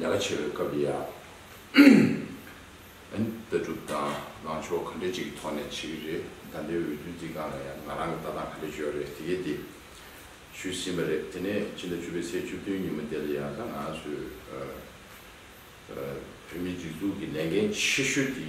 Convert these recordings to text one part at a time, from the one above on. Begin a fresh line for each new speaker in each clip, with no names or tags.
ལས་ཀ་བྱེད་པའི་སྐབས་ལ་ཡང་ལྟ་གྲུབ་དང་ལངས་ཕྱོགས་ག་འདྲ་ཅིག་གི་ཐོག་ནས་བྱེད་ཀྱི་རེད་ད་ལྟའི་འོས་བསྡུ་འདི་གང་ལ་ཡང་ང་རང་གི་ལྟ་སྟངས་ག་འདྲ་བྱོས་རེད་དེ་གས་དེ་ཞུས་ཟིན་པ་རེད་དེ་ནས་ཕྱི་ཟླ་བཅུ་པའི་ཚེས་བཅུ་བདུན་ཉིན་མོ་དེ་ལ་ཡང་ད་ང་ཚོས་བོད་མིའི་སྒྲིག་འཛུགས་ཀྱི་ལས་འགན་ཆེ་ཤོས་དེ་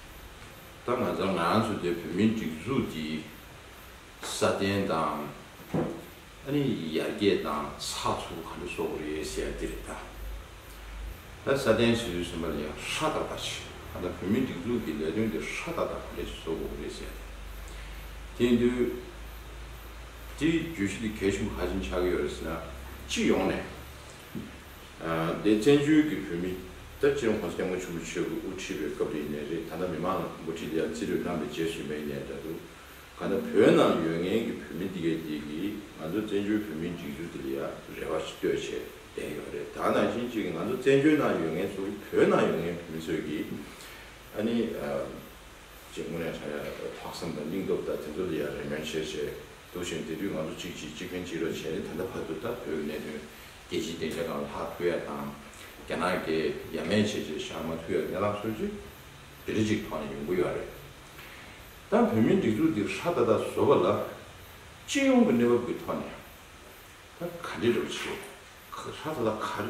ད་ང་ཚོ་ང་ཚོ་དེ་བོད་མིའི་སྒྲིག་འཛུགས་ཀྱི་སྲ་བརྟན་དང། ཨ་རི་ཡི་ཡར་རྒྱས་དང་ས་ཚུགས་ག་འདྲ་སོགས་རེད་ཟེར་ཡ་དེ་རེད་ད། ད་སྲ་བརྟན་བྱེད་ཚུལ་ཟེར་པ་ལས་ཡང་ཧྲ་ཏག་ཏག་བྱེད་ད་ད་བོད་མིའི་སྒྲིག་འཛུགས་ཀྱི་ལས་དོན་དེ་ཧྲ་ཏག་ཏག་ག་འདྲ་བྱེད་སོགས་རེད་ཟེར་ཡ་དེ། དེ་འདུག་དེའི་བརྗོད་གཞི་དེ་གལ་ཆེན་པོ་ཧ་ཅིང་ཆགས་ཀྱི་ཡོད་རེད་ཟེར་ན་སྤྱི་ཡོངས་ནས། དེ་བཙན་བྱོལ་གྱི་བོད་མི་ད་སྤྱིར་ཧོང་སང་སྐྱབས་མགོན་ཆེན་པོ་ཆོས་ཀྱི་དབུ་ཁྲིད་པའི་སྐབས་དེ་ཡིན་ནའི་རེད་ད་ལྟ་མི་མང་ལ་མགོ་ཁྲིད་དེ་ཡང་རྩིས་རིག་རྣམ་པས་འཇལ་བཞིན་པ་ཡིན་ནའི་འདྲ་འདུག་ག་ན་བོད་ནང་ཡོད་ངེས་ཀྱི་བོད་མི་འདི་གའི་དེ་གིས་ང་ཚོ་བཙན་བྱོལ་བོད་མིའི་འགྲིག་འཇུག་དེ་ལ་ཡང་རེ་བ་ཞིག་གཏོད་བྱས་བསྡད་ཡོད་རེད་དཱ་ནང་བཞིན་གཅིག་ང་ཚོ་བཙན་བྱོལ་ནང་ཡོད་ངེས་ཚོ་གིས་བོད་ནང་ཡོད་ངེས་བོད་མི་ཚོས་ཀྱིས་ཨ་ནི། ཅེས་དངོས་གནས་ཆ་ཡག་རེད་ལྷག་བསམ་དང་སྙིང་སྟོབས་དང་དེ་ཚོ་ལས་ཡག་རེ་མོན་ཆེར་བྱས་འདུག་ཞེན་དེ་དུས་ང་ཚོ་གཅིག་གཅིག་གཅིག་ཕན་གཅིག་རོགས་བྱས་ནས་ད་ལྟ་བར་དུ་ད་བོད་ཀྱི་གནད་དོན་རྒྱལ་སྤྱིའི་སྡེང་ཆ་དང་ལྷག་ཐུ་ཡ་དང་རྒྱ་ནག་གི་ཡ་མན་བྱས་རྗེས་ཤར་མ་ཐུ་ཡ་གནས་ལག་སོད་ཅིག་བདེ་རེ་ཅིག་ཐོག་ནས་ཡོང་གི་ཡོད་རེད་ད་བོད་མིའི་སྒྲིག་འཛུགས་འདི་ཧྲ་ཏ་ཏ་བཟོ་བ་ལ་སྤྱི་ཡོངས་ཀྱི་གནས་བབ་ཀྱི་ཐོག་ནས་ད་ག་འདྲེ་རེ་བ་བྱས་ཧྲ་ཏ་ཏ་ག་རེ།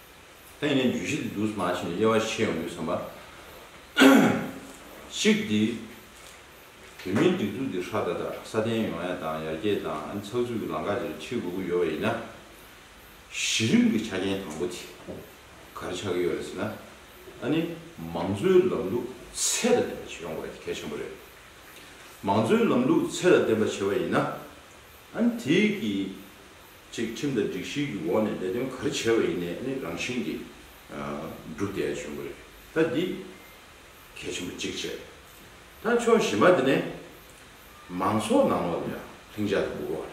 ད་ངས་བརྗོད་གཞི་འདི་འདུག་སྨྲ་བྱེད་ནས་དབྱེ་བ་ཕྱེ་ཡོང་དུས་བསམ་པ། གཅིག་འདི། བོད་མིའི་སྒྲིག་འཛུགས་འདི་ཧྲག་ཏག་ཏག་སྲ་བརྟན་ཡོང་ཡ་དང་ཡར་རྒྱས་དང་ཚགས་ཚུད་ཀྱི་ལམ་ཁ་དེར་ཁྲིད་དགོས་ཀྱི་ཡོད་པ་ཡིན་ན། གཞི་རིམ་གྱི་ཆ་རྐྱེན་དང་པོ་དེ་གར་ཆགས་ཀྱི་ཡོད་རེད་ཟེར་ན། ད་ནི་མང་གཙོའི་ལམ་ལུགས་ཚད་ལ་བརྟེན་པ་བྱེད་ཡོང་དགོས་པ་དེ་གལ་ཆེན་པོ་རེད། མང་གཙོའི་ལམ་ལུགས་ཚད་ལ་བརྟེན་པ་བྱེད་པ་ཡིན་ན། ཨ་ནི་དེ་གིས་ཅིག་ཁྲིམས་དང་སྒྲིག་གཞིའི་གི་འོག་ནས་ལས་དོན་ག་རེ་བྱས་པ་ཡིན་ནས་ནི་རང་བཞིན་གི་འགྲུབ་བསྡད་ཡ་བྱུང་གི་རེད་ད་འདི་གལ་ཆེན་པོ་གཅིག་བྱས་ད་ཕྱོགས་བཞི་མ་དེ་ནས་མང་ཚོགས་ནང་ལོག་ལ་ལྷིང་འཇགས་དང་འགུག་དགོས་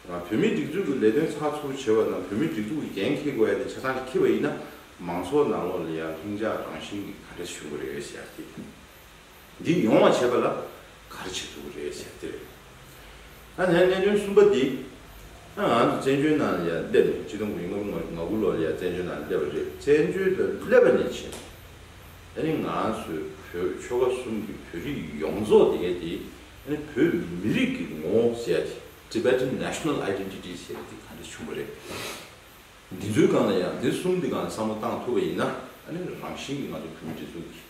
པ་རེད་བོད་མིའི་སྒྲིག་འཛུགས་གི་ལས་དོན་ཚགས་ཚུགས་བྱེད་པ་དང་བོད་མིའི་སྒྲིག་འཛུགས་གི་འགན་འཁྱེར་དགོས་ཡ་དེ་ཆ་ཚང་གི་འཁྱེར་པ་ཡིན་ན་མང་ཚོགས་ནང་ལོག་ལ་ཡ་ལྷིང་འཇགས་རང་བཞིན་གི་ག་རེ་བྱུང་གི་རེད་ཡ་ཞེས་ཡ་དེ། འདི་ཡོང་བ་བྱས་པ་ལ་གར་བྱེད་ཐུབ་ཀྱི་རེད་ཟེར་ཏེ་རེད། ད་ནས་གནད་དོན་གསུམ་པ་འདི་ད་ང་ཚོ་བཙན་བྱོལ་ནང་ལ་ཡར་སླེབས་ནས་སྤྱི་སྟོང་དགུ་ཡི་སྔ་མོ་ང་དགུ་ལོ་ལ་ཡར་བཙན་བྱོལ་ནང་ལ་སླེབས་པ་རེད་བཙན་བྱོལ་དུ་སླེབས་པ་ནས་བྱས་ནས་ཨ་ནི་ང་ཚོའི་བོད་ཆོལ་ཁ་གསུམ་གྱི་བོད་རིགས་ཡོངས་རྫོགས་དེ་གའི་དེ་ཨ་ནི་བོད་མི་རིགས་ཀྱི་ངོ་བོ་ཟེར་ཡ་དེ Tibetan National Identity ཟེར་ཡ་དེ་ག་འདྲ་བྱུང་བ་རེད། འདི་ཚོའི་སྒང་ལ་ཡང་འདི་གསུམ་དེ་ག་ལ་བསམ་བློ་བཏང་ཐུབ་པ་ཡིན་ན་ཨ་ནི་རང་བཞིན་གྱིས་ང་ཚོ་བོད་མི་འདི་ཚོ་གིས།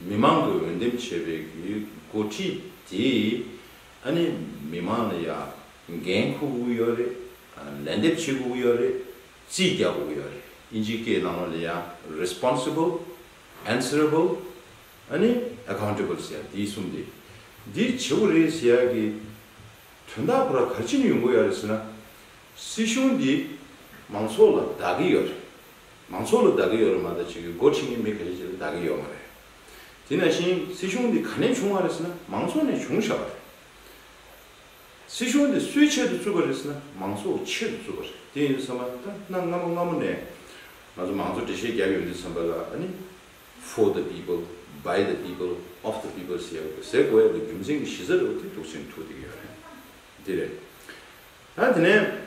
མི་མང་གི་འོས་འདེམས་བྱས་པའི་འགོ་ཁྲིད་དེས་ཨ་ནི་མི་མང་ལ་ཡང་འགན་འཁུར་དགོས་ཡོད་རེད། ལན་འདེབས་བྱེད་དགོས་ཡོད་རེད། རྩིས་རྒྱག་དགོས་ཡོད་རེད་ཨིན་ཇིའི་སྐད་ནང་ལ་ཡང Responsible། Answerable། ཨ་ནི Accountable ཟེར་ཡ་འདི་གསུམ་དེ་འདི་བྱེད་དགོས་རེད་ཟེར་ཡ་གི་དོན་དག་ཁོ་ར་ག་ཅི་ནས་ཡོང་གི་ཡོད་རེད་ཟེར་ན། སྲིད་གཞུང་འདི་མང་ཚོགས་ལ་བདག་གི་ཡོད་རེད། མང་ཚོགས་ལ་བདག་གི་ཡོད་རེད་མ་གཏོགས་ཕྱི་གི་འགོ་ཁྲིད་ནི་མི་ག་རེ་ཅིག་ལ་བདག་གི་ཡོད་མ་རེད། དེ་ནང་བཞིན་སྲིད་གཞུང་འདི་ག་ནས་བྱུང་བ་རེད་ཟེར་ན་མང་ཚོགས་ནས་བྱུང་ཞབས་པ་རེད། སྲིད་གཞུང་འདི་སུའི་ཆེད་དུ་བཙུགས་པ་རེད་ཟེར་ན་མང་ཚོགས་ཆེད་དུ་བཙུགས་པ་རེད། དེ་ཡིན་བསམ་པ་ན་ད་གནའ་སྔ་མོ་སྔ་མོ་ནས་ང་ཚོ་མང་ཚོགས་འགྲེལ་བཤད་བརྒྱབ་ཡོད་འདུག་བསམ་པ་ལ་ཨ་ནི། for the people by the people of the people ཟེར་ཡོད་འདུག་ཟེར་དགོས་ཡོད་འདུག་རྒྱུ་མཚན་གྱི་གཞི་རྩ་རེད་བ་དེ་འདུག་ཟེར་ནས་ཐུགས་ཐིག་གི་ཡོད་རེད། འདི་རེད། ད་དེ་ནས།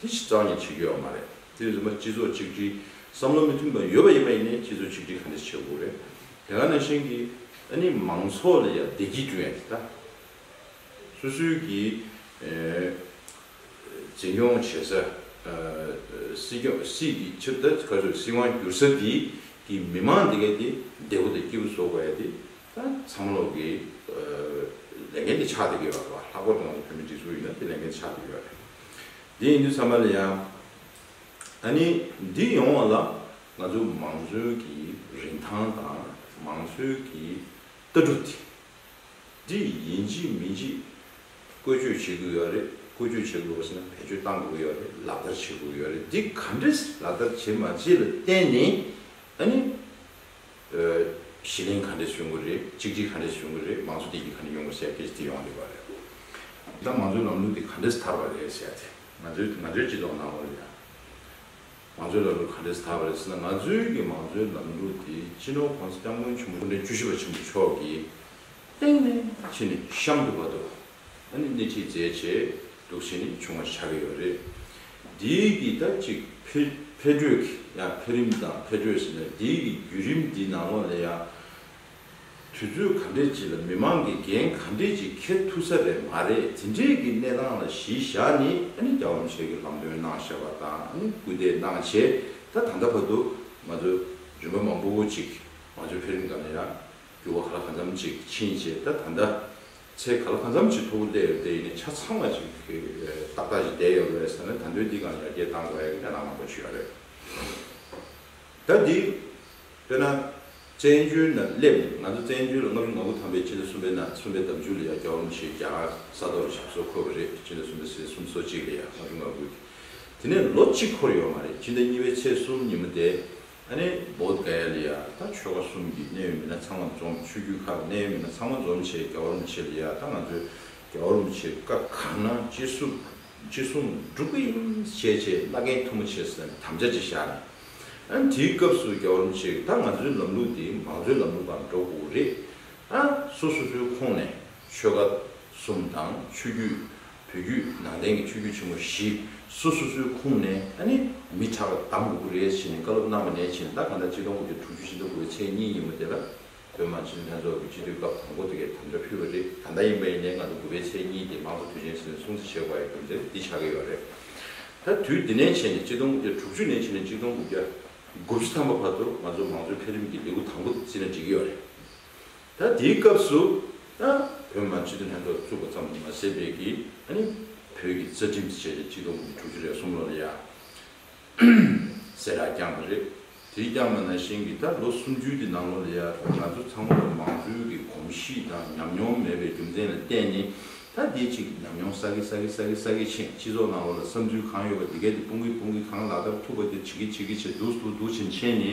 དེ་ཕྱིར་གཙང་ལེན་བྱེད་དགོས་པ་མ་རེད། དེ་བཞིན་པ་སྤྱི་ཚོགས་གཅིག་སྒྲིལ། བསམ་བློ་མི་མཐུན་པ་ཡོད་པ་ཡིན་པ་ཡིན་ནའི་སྤྱི་ཚོགས་གཅིག་སྒྲིལ་ག་འདྲས་བྱེད་དགོས་རེད། དེ་ག་ནང་བཞིན་གྱི་ཨ་ནི་མང་ཚོགས་ལ་ཡང་བདེ་སྐྱིད་བསྐྲུན་ཡ་ཆེ་ད། སུ་སུའི་གི་འཛིན་སྐྱོང་བྱེད་ས། སྲིད་སྐྱོང་སྲིད་ཀྱི་ཕྱིར་ད་ག་ཚོད་སྲིད་དབང་བསྒྱུར་ས་དེ་གི་མི་མང་དེ་ག་དེ་བདེ་བོ་དང་སྐྱིད་པོ་བཟོ་དགོས་ཡ་དེ། ཚ་མོ་ལོག་གིས། ལས་འགན་དེ་ཆགས་ཏེ་ཡོད་པ་རེད་བ། ལྷག་པར་དུ་ང་ཚོ་བོད་མི་སྒྲིག་འཛུགས་ཡིན་ན་དེ་ལས་འགན་དེ་ཆགས་ཏེ་ཡོད་པ་རེད། དེ་ཡིན་དུས་ཚང་མ་ལ་ཡང། ད་ནི་འདི་ཡོང་བ་ལ་ང་ཚོ་མང་གཙོའི་གི་རིན་ཐང་དང་མང་གཙོའི་གི་ལྟ་གྲུབ་དེ། འདི་ཡིན་ཅི་མིན་ཅི། བཀོལ་སྤྱོད་བྱེད་དགོས་ཡོད་རེད། བཀོལ་སྤྱོད་བྱེད་དགོས་པ་ཟེར་ན་བེད་སྤྱོད་གཏང་དགོས་ཡོད་རེད་ལག་བསྟར་བྱེད་དགོས་ཡོད་རེད་འདི་ག་འདྲས་ལག་བསྟར་བྱེད་མ་བྱེད་ལ་བརྟེན་ནས། ད་ནི། ཞི་ལིང་ག་འདྲས་བྱུང་གི་རེད་གཅིག་སྒྲིལ་ག་འདྲས་བྱུང་གི་རེད་མང་གཙོ་དེ་གྱིས་ག་འདྲས་ཡོང་གི་སེ་ཁེ་ཅི་ཏི་ཡོང་གི་ཡོད་པ་རེད། ད་མང་གཙོའི་ལམ་ལུགས་དེ་ག་འདྲས་དར་བ་རེད་ཟེར་ཏེ། ང་ཚོའི་ང་ཚོའི་སྤྱི་ཚོགས་ནང་ལོ་ཡང། མང་གཙོའི་ལམ་ལུགས་ག་འདྲས་དར་བ་རེད་ཟེར་ན་ང་ཚོའི་གི་མང་གཙོའི་ལམ་ལུགས་དེ་སྤྱི་ནོར ྋགོང་ས ྋསྐྱབས་མགོན་ཆེན་པོ་སྐུ་ཕྲེང་བཅུ་བཞི་པ་ཆེན་པོ་མཆོག་གིས་སྟེང་ནས་ཕྱི་ནས་གཤམ་དུ་བར་དུ་ད་ནི་སྣེ་ཁྲིད་མཛད་ཆེད་འདུག་བྱེད་ནི་བྱུང་བ་ཆགས་ཀྱི་ཡོད་རེད། འདིའི་གི་ད་ཅིག་འཕེལ་འཕེལ་འགྲོས་ཀྱི་ཡང་འཕེལ་རིམ་དང་འཕེལ་འགྲོས་ཟེར་ནས་འདིའི་གི་བརྒྱུད་རིམ་འདི་ནང་ལོགས་ལས་ཡང་དུས་ཚོད་ག་འདྲས་ཅིག་ལ་མི་མང་གི་འགན་ག་འདྲས་ཅིག་འཁྱེར་ཐུབ་ས་རེད་མ་རེད་དེ་འདྲས་ཀྱི་གནས་སྟངས་ལ་གཞི་བཞག་ནི་ཨ་ནི་རྒྱ་བམ་ཆོས་ཀྱི་ལམ་སྟོན་གནང་བཞག་པ་དང་ཨ་ནི་སྐུལ་འདེད་གནང་ཆེད་ད་ད་ལྟ་བར་དུ་ང་ཚོ་རིམ་པ་མང་པོ་ཅིག་ང་ཚོའི་འཕེལ་རིམ་ག་ནས་ཡང་འགྱུར་བ་ག་ལ་ག་འཚམ་ཅིག་ཕྱིན་ཆེད་ད་ད་ལྟ། ཚེ་ག་ལ་གང་འཚམ་ཅི་ཐུབ་བསླད་ཡོད་དེ་ཡིན་ནས་ཆ་ཚང་བ་ཅིག་ཏག་ཏག་ཅིག་བསྡད་ཡོད་རེད་ཟེར་ན་ད་འདོད་འདི་གང་ཡར་རྒྱས་བཏང་དགོས་ཡ་ཡིན་ད་ནང་མ་གོ་ཆོད་ཡ་རེད། ད་འདི་དཔེར་ན་བཙན་བྱོལ་ནང་སླེབས་ནས་ང་ཚོ་བཙན་བྱོལ་ལ་ལྔ་བཅུ་ང་དགུ་ཐམ་པའི་སྤྱི་ཟླ་གསུམ་པའི་ནང་གསུམ་པའི་ཟླ་མཇུག་ལ་ཡར་རྒྱ་བ་མོ་ཆེའི་རྒྱ་གར་ས་ཐོག་ལ་ཞག་སོ་འཁོར་བ་རེད་སྤྱི་ཟླ་གསུམ་པའི་ཟེར་གསུམ་སོ་གཅིག་ལ་ཡར་ལྔ་བཅུ་ང་དགུ་དེ་ནས་ལོ་གཅིག་འཁོར་ཡོད་མ་རེད་སྤྱི་ཟླ་གཉིས་པའི་ཚེས་གསུམ་ཉིན་མོ་དེ་ཨ་ནེ་བོད་ག་ཡ་ལི་ཡ་ད་ཆོལ་ཁ་གསུམ་གྱི་གནད་ཡོད་མི་སྣ་ཚང་མ་འཛོམས་ཆོས་རྒྱུད་ཁག་གི་གནད་ཡོད་མི་སྣ་ཚང་མ་འཛོམས་བྱས་རྒྱ་བོར་མི་བྱེད་ལི་ཡ་ད་ང་ཚོས་རྒྱ་བོར་མི་བྱེད་སྐབས་གང་ན་ཅི་སུབ་ཅི་སུང་སྒྲུབ་གི་ཡིན་བྱས་བྱས་བླ་རྒན་ཐུ་མོ་བྱས་ཟེར་ནས་དམ་བཅའ་ཅིག་བཞག་ནས་ཨན་དེའི་སྐབས་སུ་རྒྱ་བོར་མི་བྱེད་ད་ང་ཚོའི་ལམ་ལུགས་དེ་མང་གཙོའི་ལམ་ལུགས་དང་འགྲོ་དགོས་ཀྱི་རེད་ཨ་སོ་སོ་སོའི་ཁོངས་ནས་ཆོལ་ཁ་གསུམ་དང་ཆོས་རྒྱུད་བོད་བརྒྱུད་ནང་བསྟན་གྱི་ཆོས་བརྒྱུད་ཆེན་མོ་བཞི་སོ་སོ་སོའི་ཁུངས་ནས་ཨ་ནི་མི་དྲག་པ་དམ་དགུ་རེད་ཟེར་ནས་བཀའ་སློབ་གནང་བ་ནས་བྱིན་རླབས་གང་དག་སྤྱི་སྟོང་དགུ་བརྒྱ་དྲུག་ཅུ་ཕྱི་ཟླ་དགུ་བའི་ཚེས་གཉིས་ཉིན་མོ་དེ་ལ་བོད་དམངས་སྤྱི་འཐུས་ལྷན་ཚོགས་ཀྱི་སྤྱི་འཐུས་སྐབས་དང་པོ་དེ་གའི་དམ་བཅའ་ཕུལ་བ་རེད་ད་ལྟ་ཡིན་པ་ཡིན་ནའི་སྔ་དྲོ་དགུ་བའི་ཚེས་གཉིས་དེ་མང་གཙོ་དུས་ཆེན་ཟེར་ནས་སྲུང་བརྩི་བྱེད་དགོས་པ་ཡིན་རྒྱུ་མཚན་འདི་ཆགས་ཀྱི་ཡོད་རེད་ད་དུས་འདི་ནས་བྱས་ནས་སྤྱི་སྟོང་དགུ་བརྒྱ་དྲུག་ཅུ་ནས་བྱས་ནས་སྤྱི་སྟོང་དགུ་བརྒྱ་དགུ་བཅུ་ཐམ་པ་བར་དུ་ང་ཚོ་མང་གཙོའི་འཕེལ་རིམ་གྱི་ལེའུ་དང་པོ་དེ་བརྩི་ན་འགྲིག་གི་ཡོད་རེད། ད་དེའི་སྐབས་སུ་ཨ་བོད་མ་སྤྱི་འཐུས་ལྷན་ཚོགས་བཙུགས་པ་ཙམ་ལས་མ་ཟད་བལ་གྱི་ཨ་ནི་བོད་ཀྱི་རྩ་ཁྲིམས་སུ་བྱས་ཏེ་སྤྱི་ལོ་དྲུག་ཅུ་རེ་གསུམ་ལོར་ཡ་སེ་ར་བསྐྱངས་པ་རེད། དེ་བསྐྱངས་པ་ན་བཞིན་གྱི་ད་ལོ་སུམ་ཅུའི་དེ་ནང་ལོ་ལ་ཡ་ང་ཚོ་ཚང་མ་ལ་མང་གཙོའི་གི་གོམས་གཤིས་དང་ཉམས་མྱོང་མེད་པའི་རྒྱུ་མཚན་ལ་བརྟེན་ནི་ད་དེའི་ཆེད་ཀྱི་ཉམས་མྱོང་ས་གི་ས་གི་ས་གི་ས་གི་ཕྱིན་སྤྱི་ཚོགས་ནང་ལོ་ལ་བསམ་ཚུལ་གང་ཡོད་པ་དེ་གས་དེ་སྤུང་གི་སྤུང་གི་གང་ལག་བསྟར་ཐུབ་པ་དེ་བྱེད་གི་བྱེད་གི་བྱེད་འདུག་འདུག་འདུག་བྱེད་བྱེད་ནི།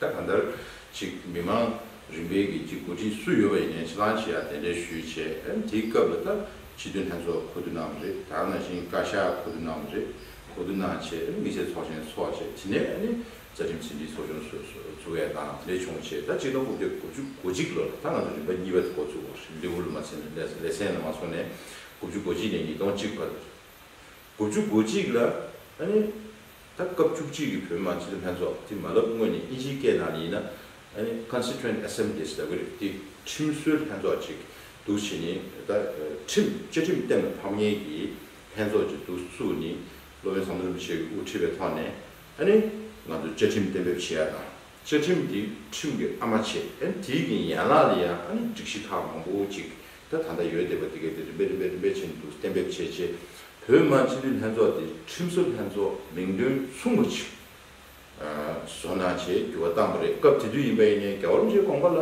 ད་གང་ལྟར་ཅིག་མི་མང་རིམ་པས་ཀྱི་ཀྱི་འགོ་ཁྲིད་སུ་ཡོད་པ་ཡིན་ནས་ཕྱི་ལང་བྱེད་ཡ་དེ་འདྲས་ཞུས་བྱས་དེ་སྐབས་ལ་ད་སྤྱི་དོན་ལྷན་ཚོགས་གོ་བསྡུ་གནང་བ་རེད་ད་ནང་བཞིན་བཀའ་ཤག་གོ་བསྡུ་གནང་བ་རེད་གོ་བསྡུ་གནང་བྱས་དེ་དམིགས་བསལ་ཚོགས་ཆེན་ཚོགས་བྱས་དེ་ནས་ནི་རྩ་ཁྲིམས་ཟིན་བྲིས་ཚོགས་ཆུང་ཚུགས་ཡ་དང་དེ་འདྲས་བྱུང་བྱས་ད་གཅིག་སྟོང་དགུ་བརྒྱ་དགུ་བཅུ་གོ་གཅིག་ལོ་ལ་ད་ང་ཚོ་རིམ་པ་གཉིས་པ་འགོ་བཙུགས་པ་རེད་ལེའུ་ལ་མ་ཚན་ལེ་ཚན་ལ་མ་སོང་ནས་དགུ་བཅུ་གོ་གཅིག་ནས་ཉིས་སྟོང་གཅིག་བར་དགུ་བཅུ་གོ་གཅིག་ལ་ནི་ད་སྐབས་བཅུ་གཅིག་གི་བོད་དམངས་སྤྱི་མཐུན་ལྷན་ཚོགས་དེ་མ་ལབ་དངོས་ནས་དབྱིན་ཇིའི་སྐད་ནང་ནས་ཡིན་ན། Constituent Assemblies ལབ་གི་རེད་དེ་ཁྲིམས་སྲོལ་ལྷན་ཚོགས་ཅིག་འདུག་བྱས་ནས་ད་ཁྲིམས་བཅའ་ཁྲིམས་གཏན་ལ་ཕབ་ཉེན་གྱི་ལྷན་ཚོགས་ཅིག་འདུག་སུ་ནི་སློབ་དཔོན་ཟམ་གདོང་མི་ཆེ་གི་དབུ་ཁྲིད་པའི་ཐོག་ནས་ཨནི། ང་ཚོ་བཅའ་ཁྲིམས་གཏན་འབེབས་བྱེད་ཡ་དང་བཅའ་ཁྲིམས་དེ་ཁྲིམས་ཀྱི་ཨ་མ་བྱེད་ཨནི་དེའི་གྱི་ཡན་ལག་ལ་ཡང་ཨནི་སྒྲིག་གཞི་ཁག་མང་པོ་ཅིག་ད་ད་ཡོད་བསྡད་པ་དེ་གས་དེ་རིམ་པས་རིམ་པས་རིམ་པས་བྱས་ནས་འདུག་གཏན་འབེབས་བྱས་རྗེས་བོད་དམངས་སྤྱི་འཐུས་ལྷན་ཚོགས་དེ་ཁྲིམས་བཟོ་ལྷན་ཚོགས་མིང་དོན་མཚུངས་པ་ཞིག་བཟོ་ན་ཞེས་འགྱུར་བ་བཏང་བ་རེད་སྐབས་དེ་དུས་ཡིན་པ་ཡིན་ནའི་རྒྱ་བོར་མཆེད་དགོངས་པ་ལ་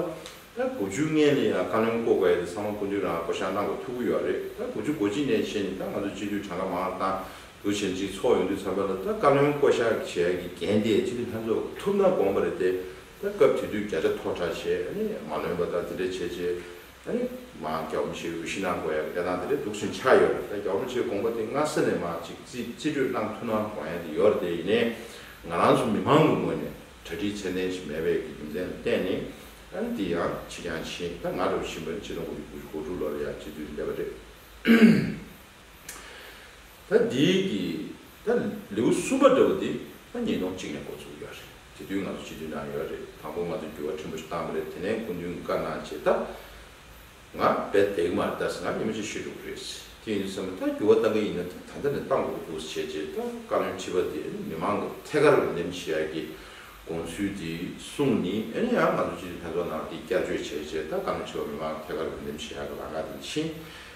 དགུ་བཅུ་ལྔའི་ལས་ཡང་བཀའ་བློན་བསྐོ་དགོས་ཡ་དེ་ཚང་མ་སྐུ་མདུན་རང་བསྐོ་བཞག་གནང་དགོས་ཐུགས་ཁུར་ཡོད་རེད་ད་དགུ་བཅུ་གོ་གཅིག་ནས་བྱས་ནས་ད་ང་ཚོ་སྤྱི་འཐུས་གྲངས་ཀ་མང་དང་དགུ་བྱས་ནས་སྤྱི་ཚོགས་ཡོང་དུས་ཚར་པ་ལ་ད་བཀའ་བློན་བསྐོ་བཞག་བྱས་ཡ་གི་འགན་དེ་སྤྱི་འཐུས་ལྷན་ཚོགས་ཐུབ་ན་དགོངས་པ་རེད་དེ་ད་སྐབས་དེ་དུས་བརྒྱ་ཆ་མཐོ་དྲགས་བྱས་ནས་མ་ལོན་པ་ད་དེ་འདྲ་བྱས་རྗེས་མ་རྒྱ་བོ་མཆེད་འོས་ཤི་ན་དགོས་ཡ་གི་ལས་སྟངས་དེ་འདྲས་འདུག་ཟིན་ཆ་ཡོད་རེད་ད་རྒྱ་བོ་མཆེད་དགོངས་པ་དེ་སྔ་ས་ནས་མ་ཅིག་རྩིས་སྤྲོད་གནང་ཐུ་ན་དགོངས་ཡ་དེ་ཡོད་རེད་དེ་ཡིན་ནས་ང་རང་ཚོ་མི་མང་གི་ངོས་ནས་གྲ་སྒྲིག་ཚད་ལྡན་ཞིག་མེད་པའི་གི་རྒྱུ་མཚན་ལ་བརྟེན་ནས་དེ་ཡང་ཕྱི་རྐྱང་ཕྱིན་ད་ང་འདྲ་བོ་ཕྱིན་པ་ནི་སྤྱི་ལོ་དགུ་བཅུ་དགུ་བཅུ་དགུ་དྲུག་ལོར་ཡ་སྤྱི་འཐུས་འདས་པ་རེད། ད་འདི་གི་ད་ལེའུ་གསུམ་པ་འདྲ་བོ་འདི་ད་ཉིས་སྟོང་གཅིག་ནས་འགོ་ཚུགས་ཡོད་རེད་དེ་དུས་ང་ཚོ་སྤྱི་འཐུས་ནང་ཡོད་རེད་དང་པོ་ང་ཚོ་འགྱུར་བ་ཕྲན་བུ་ཞིག་བཏང་པ་རེད་དེ་ནས་སྐུ་མདུན་གྱི་བཀའ་གནང་རྗེས་ད་ང་རྦད་དེ་མར་ད་ཟེར་ན་ཉིན་མོ་གཅིག་ཤི་འགྲོ་གི་རེད་ཟེར་དེ་ཡིན་དུ་བསམ་ན་ད་འགྱུར་བ་བཏང་གི་ཡིན་ན་ད་ད་ལྟ་ནས་བཏང་དགོས་ཀྱི་འདུག་ཟེར་རྗེས་ད་བཀའ་བློན་ཁྲི་པ་དེས་མི་མང་གི་ཐད་ཀར་འོས་འདེམས་བྱེད་ཡག་གི་དགོངས་ཚུལ་དེ་གསུངས་ནས་ཨེ་རེད་ཡང་ང་ཚོ་སྤྱི་འཐུས་ལྷན་ཚོགས་ནང་དེ་བསྐྱར་བཅོས་བྱས་རྗེས་ད་བཀའ་བློན་ཁྲི་པ་མི་མང་གི་ཐད་ཀར་འོས་འདེམས་བྱེད་ཡག་གི་ལག་ངར་དེ་མཆིས་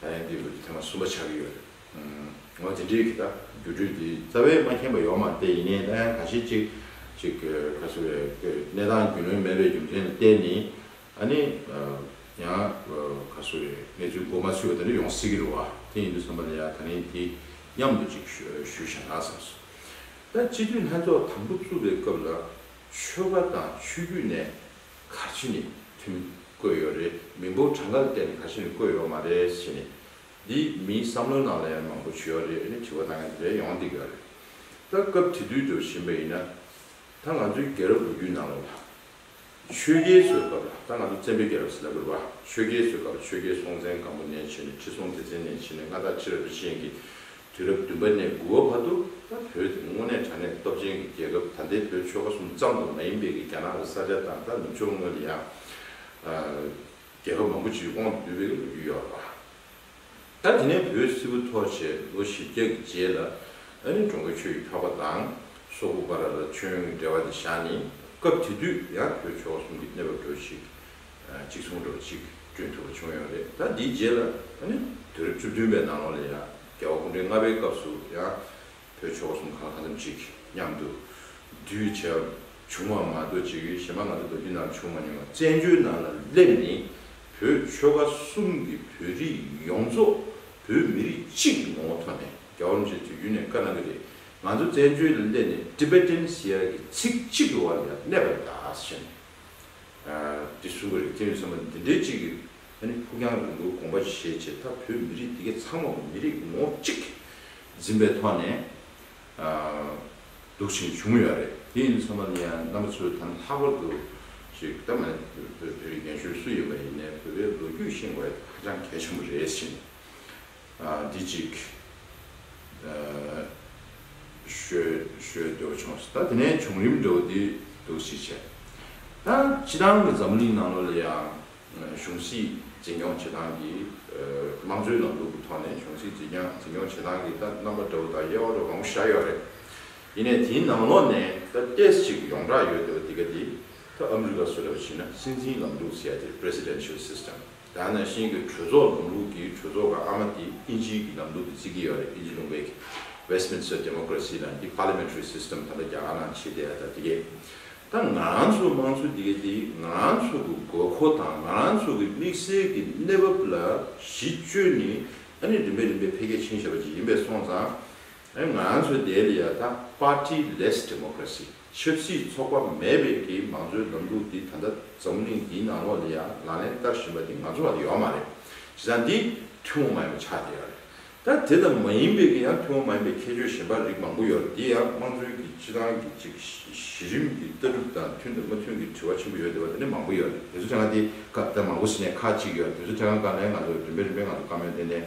ད་ཡང་འདིར་ཐེངས་གསུམ་པ་ཆགས་ཀྱི་ཡོད་རེད། འོ་དེ་འདྲའི་གི་ད་རྒྱུ་འབྲས་འདི་རྩ་བས་མ་མཁྱེན་པ་ཡོག་མ་སྟེ་ཡིན་ནའི་ད་ཡང་ག་ཤེད་ཅིག་ཅིག་ག་ཚོད་བའི་གི་གནས་སྟངས་རྒྱུས་ལོན་མེད་པའི་རྒྱུ་མཚན་ལ་བརྟེན་ནས་ཨ་ནི་ཡང་ག་ཚོད་བའི་གནས་ཚུལ་གོ་མ་ཆོད་པ་དེ་འདྲ་ཡོང་སྲིད་ཀྱི་རེད་བ་དེ་ཡིན་དུས་བསམ་པ་ལ་ཡང་ད་ནི་དེ་མཉམ་དུ་ཅིག་ཞུ་བྱ་ན་བསམ་སོང། ད་སྤྱི་འཐུས་ལྷན་ཚོགས་དང་པོ་བཙུགས་པའི་སྐབས་ལ་ཆོལ་ཁ་དང་ཆོས་བརྒྱུད་ནས་ག་ཆུ་ནས་ཐོན་བསྐོས་ཡོད་རེད་མི་འབོར་གྲངས་ཀ་ལ་བལྟས་ནས་ག་ཆུ་ནས་བསྐོས་ཡོད་མ་རེད་ཟེར་ནས། འདི་མིའི་བསམ་བློའི་ནང་ལ་ཡང་མང་པོ་བྱུས་ཡོད་རེད་ཨེ་ནི་དྲི་བ་གནང་མཁན་དེ་འདྲ་ཡོང་སྡིག་ཡོད་རེད། ད་སྐབས་དེ་དུས་འགྲོ་བཞིན་པ་ཡིན་ན། ད་ང་ཚོའི་རྒྱལ་རབས་ལོ་རྒྱུས་ནང་ལ་ལྷག་ཆོས་རྒྱལ་བཟོའི་སྐབས་ལ་ད་ང་ཚོ་བཙན་པོའི་རྒྱལ་རབས་ཟེར་ན་འགྲོ་བ་ཆོས་རྒྱལ་བཟོའི་སྐབས་ལ་ཆོས་རྒྱལ་སྲོང་བཙན་སྒམ་པོ་ནས་བྱས་ནས་ཁྲི་སྲོང་ལྡེ་བཙན་ནས་བྱས་ནས་མངའ་བདག་ཁྲི་རབས་རིན་ཆེན་གྱི་དུས་རབས་བདུན་པ་ནས་དགུ་བ་བར་དུ་བོད་དེ་དངོས་གནས་དྲང་གནས་སྟོབས་ཅན་གྱི་རྒྱལ་ཁབ་ད་ལྟའི་བོད་ཆོལ་ཁ་གསུམ་ཙམ་དུ་མ་ཡིན་པའི་གི་རྒྱ་ནག་གི་ས་ཆ་དང་ད་ནུབ་ཕྱོགས་སྔོན་དུ་ཡང་རྒྱལ་ཁབ་མང་པོ་སྤྱིའི་དབང་དུ་བསྡུས་པའི་གི་ལོ་རྒྱུས་ཡོད་པ། ད་དེ་ནས་བོད་སིལ་བུ་ཐོག་བྱས་ལོ་བཞི་བརྒྱ་གི་རྗེས་ལ་ཨ་རིའི་འགྲོ་མགོན་ཆོས་ཀྱི་འཕགས་པ་དང་སོ་ཀུ་པ་ར་ར་ཆོས་ཡོན་གྱི་འབྲེལ་བ་དེ་བཞག་ནས་སྐབས་དེ་དུས་ཡང་བོད་ཆོལ་ཁ་གསུམ་གྱི་གནས་བབ་འགྲོ་ཞིག་གཅིག་མཚུངས་སྒྲོག་གཅིག་བསྐྲུན་ཐུབ་པ་བྱུང་ཡོད་རེད་ད་དེའི་རྗེས་ལ་ད་ནི་དུས་རབས་བཅུ་བདུན་པའི་ནང་ལོགས་ལ་ཡང་རྒྱལ་བ་སྐུ་ཕྲེང་ལྔ་པའི་སྐབས་སུ་ཡང་བོད་ཆོལ་ཁ་གསུམ་གང་ལྷག་ཙམ་ཅིག་མཉམ་དུ་འདུས་བྱས་པ་བྱུང་བ་མ་གཏོགས་ཅིག་གཞན་པ་ང་ཚོ་ལོ་རྒྱུས་ནང་བྱུང་མ་མྱོང་བ་བཙན་བྱོལ་ནང་ལ་སླེབས་ནས་བོད་ཆོལ་ཁ་གསུམ་གྱི་བོད་རིགས་ཡོངས་རྫོགས་བོད་མི་རིགས་གཅིག་གི་ངོ་བོ་ཐོག་ནས་རྒྱལ་བ་རིན་པོ་ཆེ་དུས་རྒྱུན་ནས་བཀའ་གནང་གི་རེད་ང་ཚོ་བཙན་བྱོལ་ལ་སླེབས་ནས Tibetan Sea གི་ཚིག་གཅིག་གི་བར་ལ་གནས་པ་བཞིན། འདི་གསུམ་ག་རེ་ཁྱེད་ཚོས་བསམ་པ་འདི་འདྲའི་ཅིག་ཨ་ནི་ཕུགས་རྒྱང་རིང་པོའི་དགོངས་པ་བཞེས་བྱས་མཐར་བོད་མི་རིགས་འདི་གའི་ཚང་མ་མི་རིགས་ངོ་གཅིག་འཛིན་པའི་ཐོག་ནས་འདུག་ཆེན་བྱུང་ཡོད་རེད་དེ་ཡིན་བསམ་པ་ནི་རྣམ་པ་ཚོས་ད་ནི་ལྷག་པར་དུ་ཅིག་ད་མ་བོད་མི་རིགས་རྒན་གཞོན་སུ་ཡིན་པ་ཡིན་ནའི་བོད་པའི་ལོ་རྒྱུས་ཤེས་དགོས་ཧ་ཅང་གལ་ཆེན་པོ་རེད་བཞིན། དེ་གཅིག། ཞོལ་དུ་ཕྱོགས་སོ། ད་དེ་ནས་བྱུང་རིམ་འགྲོ་བ་དེ་དུ་གཞི་བྱས། ད་སྤྱི་དང་གི་འཛམ་གླིང་ནང་ལོ་ལ་ཡང་གཞུང་སྲིད་འཛིན་སྐྱོང་བྱེད་སྟངས་ཀྱི་དམངས་གཙོའི་ལམ་ལུགས་ཀྱི་ཐོག་ནས་གཞུང་སྲིད་འཛིན་སྐྱོང་བྱེད་སྟངས་ཀྱི་ད་རྣམ་པ་འདྲ་བོ་དང་དབྱེ་བ་འདྲ་བོ་མང་པོ་བཞག་ཡོད་རེད། ཡིན་ནས་དེའི་ནང་ལོགས་ནས་ད་ཏེས་གཅིག་ཡོངས་གྲགས་ཡོད་དོ་དེ་ག་དེ། ད་ཨ་མི་རི་ཀ་སུ་ལ་བྱིན་ན་སྲིད་འཛིན་ལམ་ལུགས་ཟེར་ཡ་དེ presidential system། ཡང་ན་ཤིང་གི་གྲོས་ཚོགས་ལམ་ལུགས་ཀྱིས་གྲོས་ཚོགས་ཀྱི་ཨ་མ་དེ་ཨིན་ཇིའི་གི་ལམ་ལུགས་ཀྱི་བརྩི་གི་ཡོད་རེད་ཨིན་ཇི་ལུང་པའི་གི Westminster Democracy ནང་གི Parliamentary System ད་ལྟ་རྒྱ་གར་ནང་བྱེད་བསྡད་ད་དེ་གས་ད་ང་རང་ཚོའི་དམངས་གཙོ་དེ་གས་དེ་ང་རང་ཚོ་གི་དགོས་མཁོ་དང་ང་རང་ཚོ་གི་དམིགས་བསལ་གི་གནས་བབ་ལ་གཞི་བཅོལ་ནི་ད་ནི་རིམ་པས་རིམ་པས་འཕེལ་རྒྱས་ཕྱིན་བཞེད་པ་ཅིག་ཡིན་པས་སོང་ཙང་ང་རང་ཚོའི་དེ་ལ་ཡ་ད Party Less Democracy། ཆབ་སྲིད་ཚོགས་པ་མེད་པའི་གི་མང་གཙོའི་ལམ་ལུགས་འདི་ད་ལྟ་འཛམ་གླིང་འདིའི་ནང་ལོགས་ནས་ཡང་ལག་ལེན་བསྟར་བཞིན་པ་འདི་ང་ཚོ་བར་ཡོད་མ་རེད། བྱས་ཙང་འདི་ཐུན་མོང་མ་ཡིན་པ་ཆགས་བསྡད་ཡོད་རེད། ད་དེ་ལྟ་མ་ཡིན་པའི་གི་ཡང་ཐུན་མོང་མ་ཡིན་པའི་ཁྱད་ཆོས་གཞན་པ་རིགས་མང་པོ་ཡོད་རེད་འདི་ཡང་དམངས་གཙོའི་གི་སྤྱི་དང་གི་ཅིག་གཞི་རིམ་གི་ལྟ་གྲུབ་དང་མཐུན་དང་མ་མཐུན་གི་དྲི་བ་ཆེན་པོ་ཡོད་བསྡད་པ་དེ་འདྲ་མང་པོ་ཡོད་རེད་དེ་ཚོ་དེ་སྔ་དེ་ད་མང་པོ་ཟིན་ནས་ཁག་ཅིག་ཡོད་རེད་དེ་ཚོ་དེ་སྔ་དགའ་ལས་ང་ཚོ་རིམ་པས་རིམ་པས་ང་ཚོ་དཀའ་མོལ་བསྡད་ནས་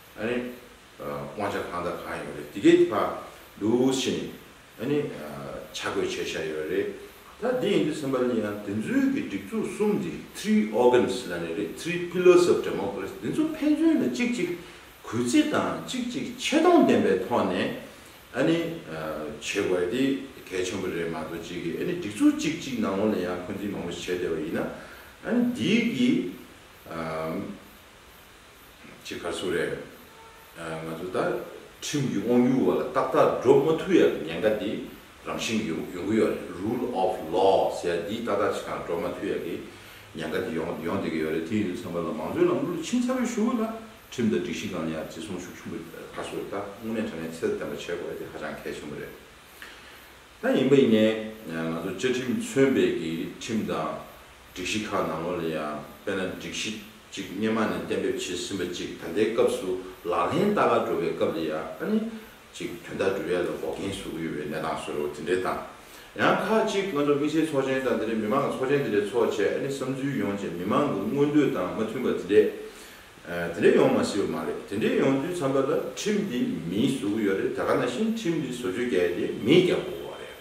ཨ་ནི། དབང་ཆ་གང་དང་གང་ཡོད་རེད། དེ་གའི་བར་དུ་ཕྱིན་ནས་ཨ་ནི། ཆ་བགོས་བྱས་བཞག་ཡོད་རེད། ད་དེ་ཡིན་དུས་སེམས་པ་ལ་ཡིན་ཡང་དེ་ཚོའི་གི་སྒྲིག་འཛུགས་གསུམ་དེ three organs ལ་ནི་རེད three pillars of democracy དེ་ཚོ་ཕན་ཚུན་ལ་གཅིག་གཅིག་གུས་བརྩི་དང་གཅིག་གཅིག་ཆེ་མཐོང་ལྡན་པའི་ཐོག་ནས་ཨ་ནི། བྱེད་དགོས་དེ་གལ་ཆེན་པོ་རེད་མ་གཏོགས་གཅིག་གིས་ཨ་ནི་སྒྲིག་འཛུགས་གཅིག་གཅིག་ནང་ལོགས་ལ་ཡང་འཁོན་འཛིན་མང་པོ་བྱས་བསྡད་པ་ཡིན་ན་ཨ་ནི་དེའི་གི། ཅེས་ག་སུ་རེད། ང་ཚོ་ད་ཁྲིམས་ཀྱི་དབང་སྒྱུར་བ་ལ་ཏག་ཏག་སྒྲོག་མ་ཐུབ་ཡག་གི་ཉེན་ཁ་དེ་རང་བཞིན་གྱི་ཡོང་གི་ཡོད་རེད Rule of Law ཟེར་ཡ་འདི་ཏག་ཏག་ཅིག་ཀྱང་སྒྲོག་མ་ཐུབ་ཡག་གི་ཉེན་ཁ་དེ་ཡོང་ཡོང་སྡོད་ཀྱི་ཡོད་རེད་དེ་ཡིན་དུས་ཚང་མ་ལ་མང་གཙོའི་ལམ་ལུགས་ལ་ཕྱིན་ཚར་བའི་ཞུ་བ་ལ་ཁྲིམས་དང་སྒྲིག་གཞི་གང་ལ་ཡང་བརྩི་སྲུང་ཤུགས་ཆུང་པོ་ག་སུ་རེད་ད་དངོས་གནས་དྲ་གནས་ཚད་ལྡན་པ་བྱེད་དགོས་དེ་ཧ་ཅང་གལ་ཆེན་པོ་རེད་ད་ཡིན་པ་ཡིན་ནའི་ང་ཚོ་བཅའ་ཁྲིམས་མཚོན་པའི་གི་ཁྲིམས་དང། སྒྲིག་གཞི་ཁག་ནང་ལོ་ལ་ཡང་དཔེར་ན་སྒྲིག་གཞི་གཅིག་སྙེ་མ་ནས་གཏན་འབེབས་བྱས་ཟིན་པ་གཅིག་ད་ལྟའི་སྐབས་སུ་ལག་ལེན་བསྟར་ག་འགྲོ་བའི་སྐབས་ལ་ཡང་ཨ་ནི་གཅིག་དོན་དག་སྒྲུབ་ཡ་ལ་འགོག་རྐྱེན་བཟོ་གི་ཡོད་པའི་གནས་སྟངས་བཟོས་རོགས་དེ་འདྲའི་དང། ཡང་ཁག་གཅིག་ང་ཚོ་དམིགས་བསལ་ཚོགས་ཆེན་དང་དེ་འདྲའི་མི་མང་གི་ཚོགས་ཆེན་དེ་འདྲའི་ཚོགས་བྱས་ཨ་ནི་བསམ་ཚུལ་ཡོང་བྱས་མི་མང་གི་མངོན་འདོད་དང་མ་མཐུན་པ་དེ་འདྲས་དེ་འདྲས་ཡོང་མ་སྲིད་པ་མ་རེད་དེ་འདྲས་ཡོང་དུས་འཚམས་པ་ལ་ཁྲིམས་འདི་མིས་བཟོ་གི་ཡོད་རེད་ད་ག་ན་བཞིན་ཁྲིམས་འདི་བཟོ་བཅོས་བརྒྱད་དེ་མིས་རྒྱག་དགོས་པ་རེད།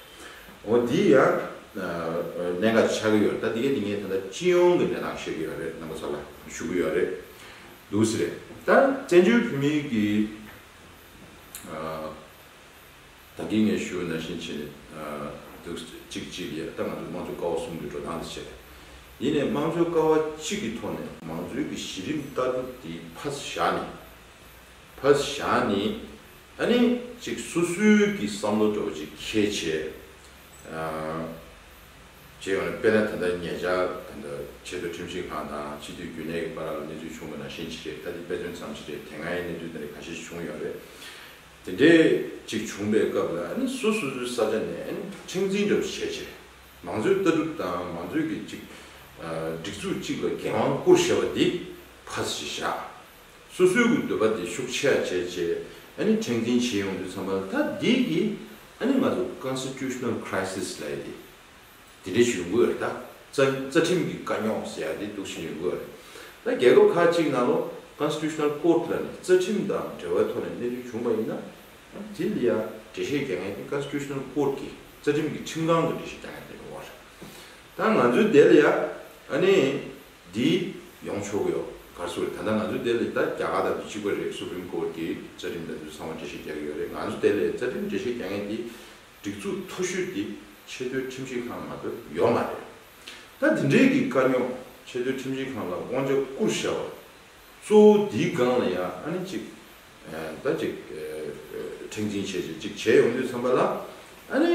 འོ་འདི་ཡང་གནད་འགག་ཅིག་ཆགས་ཀྱི་ཡོད་རེད་ད་དེ་གས་དེ་གཉིས་ད་ལྟ་སྤྱི་ཡོངས་ཀྱི་གནས་སྟངས་བཤད་ཀྱི་ཡོད་རེད་རྣམ་པ་ཚོ་ལ་ཞུ་གི་ཡོད་རེད་འདུག་ཟེར་རེད་ད་བཙན་བྱོལ་བོད་མིའི་གི་ད་གིས་ངས་ཞུ་ན་བཞིན་བྱས་ནས་འདུག་གཅིག་གཅིག་ཡས་ད་ང་ཚོས་དམངས་གཙོ་ཀ་བ་གསུམ་གྱི་འགྲོ་སྟངས་དེ་བྱས་ཡིན་ནས་དམངས་གཙོའི་ཀ་བ་གཅིག་གི་ཐོག་ནས་མང་གཙོའི་གི་གཞི་རིམ་ལྟ་གྲུབ་དེ་ཕ་བཞག་ནས་ཕ་བཞག་ནས་ད་ནི་ཅིག་སུ་སུའི་གི་བསམ་བློ་དྲོ་གཅིག་ཁྱེད་བྱེད། བྱེད་ཡོང་ནས་དཔེར་ན་དེ་འདྲ་ངེད་ཅག་དེ་འདྲ་ཆེས་མཐོའི་ཁྲིམས་ཞིབ་ཁང་དང་སྤྱི་འཐུས་རྒྱུན་ལས་ཀྱི་པ་ར་ལ་གནས་ཚུལ་བྱུང་མེད་ན་ཤེས་ཅི་རེད་ད་ནི་དཔེ་མཚོན་ཙམ་ཞིག་རེད་དེ་སྔའི་གནས་ཚུལ་དེ་འདྲ་ག་ཤེད་ཞིག་བྱུང་ཡོང་རེད། དེ་འདྲས་ཅིག་བྱུང་པའི་སྐབས་ལ་ནི་སུ་སུ་སུའི་ས་ཆ་ནས་ནི་ཁྲིམས་འཛིན་འདྲ་བོ་བྱེད་བྱེད། མང་གཙོའི་ལྟ་གྲུབ་དང་མང་གཙོའི་གི་ཅིག་སྒྲིག་འཛུགས་གཅིག་ལ་འགན་དབང་བསྐུར་ཞེས་པ་འདི་ཕ་ཚ་ཞིག་བཞག། སོ་སོའི་གུ་འདོད་པ་དེ་ཤུགས་ཆེ་ཡ་བྱས་བྱས་ཨཱ་ནི་ཕྲེང་འཛིན་བྱེད་ཡོང་དུས་ཚང་མ་ལ་ད་འདི་གི་ཨཱ་ནི་ང་ཚོ Constitutional Crisis ལ་ཡི་དེ་དེ་འདྲས་ཞིག་ཡོང་གི་ཡོད་རེད་ད། རྩ་རྩ་ཁྲིམས་ཀྱི་དཀའ་རྙོག་ཟེར་ཡ་དེ་དུག་ཆེན་ཡོང་གི་ཡོད་རེད་ད། རྒྱལ་ཁབ་ཁག་ཅིག་ནང་ལོ Constitutional Court ལ་ནི་རྩ་ཁྲིམས་དང་འབྲེལ་བའི་ཐོག་ནས་གནད་དོན་བྱུང་བ་ཡིན་ན་ཨཱ་ནི་དེ་ལ་ཡ་འགྲེལ་བཤད་རྒྱག་མཁན་དེ Constitutional Court གི་རྩ་ཁྲིམས་ཀྱི་ཁྲིམས་ཁང་གི་འགྲེལ་བཤད་རྒྱག་མཁན་དེ་རེད་མ་རེད། ད་ང་ཚོའི་དེ་ལ་ཡ་ཨཱ་ནི། འདི། ཡོང་ཆོག་གི་ཡོད། གར་སོང་རེད། ད་ལྟ་ང་ཚོ་ལྟེ་ལས་ད་རྒྱ་གར་དང་དུས་གཅིག་པ་རེད Supreme Court གི་རྩ་ཁྲིམས་དང་དུས་ཚང་བ་འགྲེལ་བཤད་རྒྱག་གི་ཡོད་རེད་ང་ཚོ་ལྟེ་ལས་རྩ་ཁྲིམས་འགྲེལ་བཤད་རྒྱག་མཁན་དེ་སྒྲིག་འཛུགས་མཐོ་ཤོས་དེ་ཆེས་མཐོའི་ཁྲིམས་ཞིབ་ཁང་ང་ཚོར་ཡོད་མ་རེད། ད་འདི་འདྲའི་གི་དཀའ་རྙོག་ཆེས་མཐོའི་ཁྲིམས་ཞིབ་ཁང་ལ་དབང་ཆ་བསྐུར་བཞག་པ། གཙོ་བོ་འདིའི་སྒང་ལ་ཡང་ཨ་ནི་གཅིག་ད་གཅིག་ཁྲེང་འཛིན་བྱས་བྱས་གཅིག་བྱས་ཡོང་དུས་འཚམ་པ་ལ་ཨ་ནི།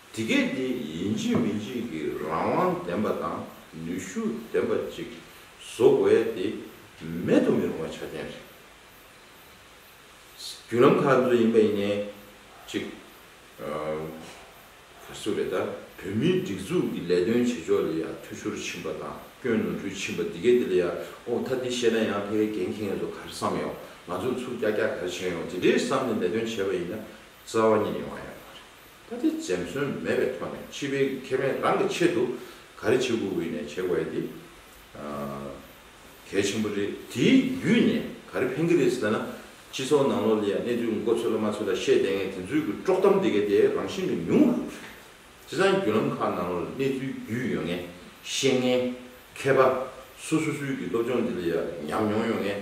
དེ་གས་དེ་ཡིན་གཅིག་མིན་གཅིག་གི་རང་དབང་ལྡན་པ་དང་ནུས་ཤུགས་ལྡན་པ་ཅིག་བཟོ་དགོས་ཡ་དེ་མེད་དུ་མི་རུང་བ་ཆ་རྐྱེན་རེད། བརྒྱུད་ལམ་ཁག་འདི་ཚོ་ཡིན་པ་ཡིན་ནའི་ཅིག། ཁ་སུ་རེད་ད་བོད་མིའི་སྒྲིག་འཛུགས་ཀྱི་ལས་དོན་བྱེད་ཕྱོགས་ལ་ཡ་འཐུས་ཤོར་ཕྱིན་པ་དང་སྐྱོན་ནོར་འཁྲུལ་ཕྱིན་པ་དེ་གས་དེ་ལ་ཡ་ཨོ་མཐའ་འདི་བཤད་ན་ཡང་ཕལ་གྱེན་ཁེངས་སོ་གར་བསམ་ཡོང་ང་ཚོ་ཚུར་སྐྱག་སྐྱག་གར་བྱེད་ཡོང་དེ་འདྲས་བསམ་ནས་ལས་དོན་བྱས་པ་ཡིན་ན་རྩ་བ་ཉིད་ཡོང་ཡ་མ་རེད། ད་ལྟའི་འཛེམ་ཟོན་མེད་པའི་ཐོག་ནས་སྤྱི་ཕན་གྱི་ཁེ་ཕན་རང་གི་ཆེད་དུ་ག་རེ་བྱེད་དགོས་ནས་བྱེད་དགོས་དེ་གལ་ཆེན་པོ་རེད། དེའི་བརྒྱུད་ནས་ག་རེ་ཕན་གྱི་རེད་ཟེར་ན། སྤྱི་ཚོགས་ནང་ལོགས་ལ་ཡང་གནས་ཚུལ་འགོ་ཚོས་ལ་མ་ཚོས་ལ་བཤད་བསྡད་ངེས་དེ་ཚོའི་གི་དཀྲོག་གཏམ་དེ་གའི་དེ་རང་བཞིན་གྱི་ཉུང་རུ་འགྲོ་སྲིད། སྤྱི་ཚང་བརྒྱུད་ལམ་ཁག་ནང་ལོགས་ལ་གནས་ཚུལ་བརྒྱུད་ཡོད་ངེས། ཤེས་ངེས། མཁས་པ། སོ་སོ་སོའི་གི་སློབ་སྦྱོང་དེ་ལ་ཡང་ཉམས་མྱོང་ཡོད་ངེས།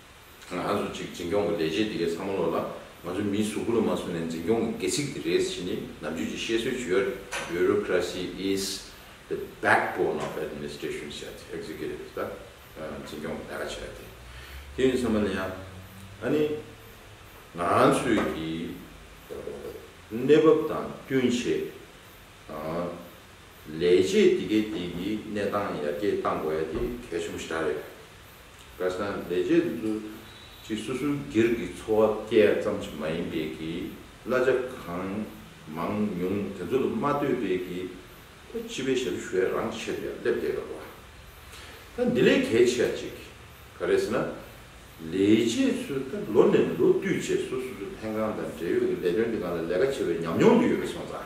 ང་ཚོ་གཅིག་འཛིན་སྐྱོང་གི་ལས་བྱེད་འདི་གའི་ཚང་མ་ལོག་ལ་ང་ཚོ་མིའི་གཟུགས་སྐུ་ལ་མ་སོང་ནས་འཛིན་སྐྱོང་གི་སྒལ་ཚིགས་དེ་རེད་ཟེར་ནི་ནམ་རྒྱུན་གྱི་བཤད་སྲོལ་བྱུས་ཡོད་རེད Bureaucracy is the backbone of administration བྱས་ཏེ Executive is the འཛིན་སྐྱོང་གི་ལས་ཀ་བྱས་ཏེ་དེ་ཡིན་ཚང་མ་ལས་ཡང་ཨ་ནི་ང་ཚོས་ཀྱི་གནས་བབ་དང་བསྟུན་ཆེད་ལས་བྱེད་འདི་གའི་འདི་གི་གནས་སྟངས་ཡར་རྒྱས་གཏང་དགོས་ཡ་དེ་གལ་ཆེན་པོ་ཞེ་དྲག་རེད། བཀའ་སངས་རྒྱས་རྗེས་སུ་འཛུད། ཅེས་སོ་སོའི་སྒེར་གྱི་འཚོ་བ་སྐྱེལ་བ་ཙམ་ཞིག་མ་ཡིན་པས་ཀྱི། གླ་ཆ་གང་མང་ཉུང་དེ་ཚོ་ལ་མ་ལྟོས་པས་ཀྱི། ད་སྤྱི་པའི་ཞབས་ཞུ་བས་རང་ཆེད་དུ་ཡང་སླེབས་བསྡད་དགོས་པ། ད་འདི་ལས་གལ་ཆེ་བ་གཅིག། ག་རེ་ཟེར་ན། ལས་རྗེས་སུ་ད་ལོ་ནས་ལོ་བསྟུད་རྗེས་སུ་སོ་སོའི་ལྷན་ཁང་དང་འབྲེལ་ཡོད་ཀྱི་ལས་དོན་དེ་གང་ལ་ལས་ཀ་བྱེད་པའི་ཉམས་མྱོང་དེ་ཡོད་པ་སོང་ཙང།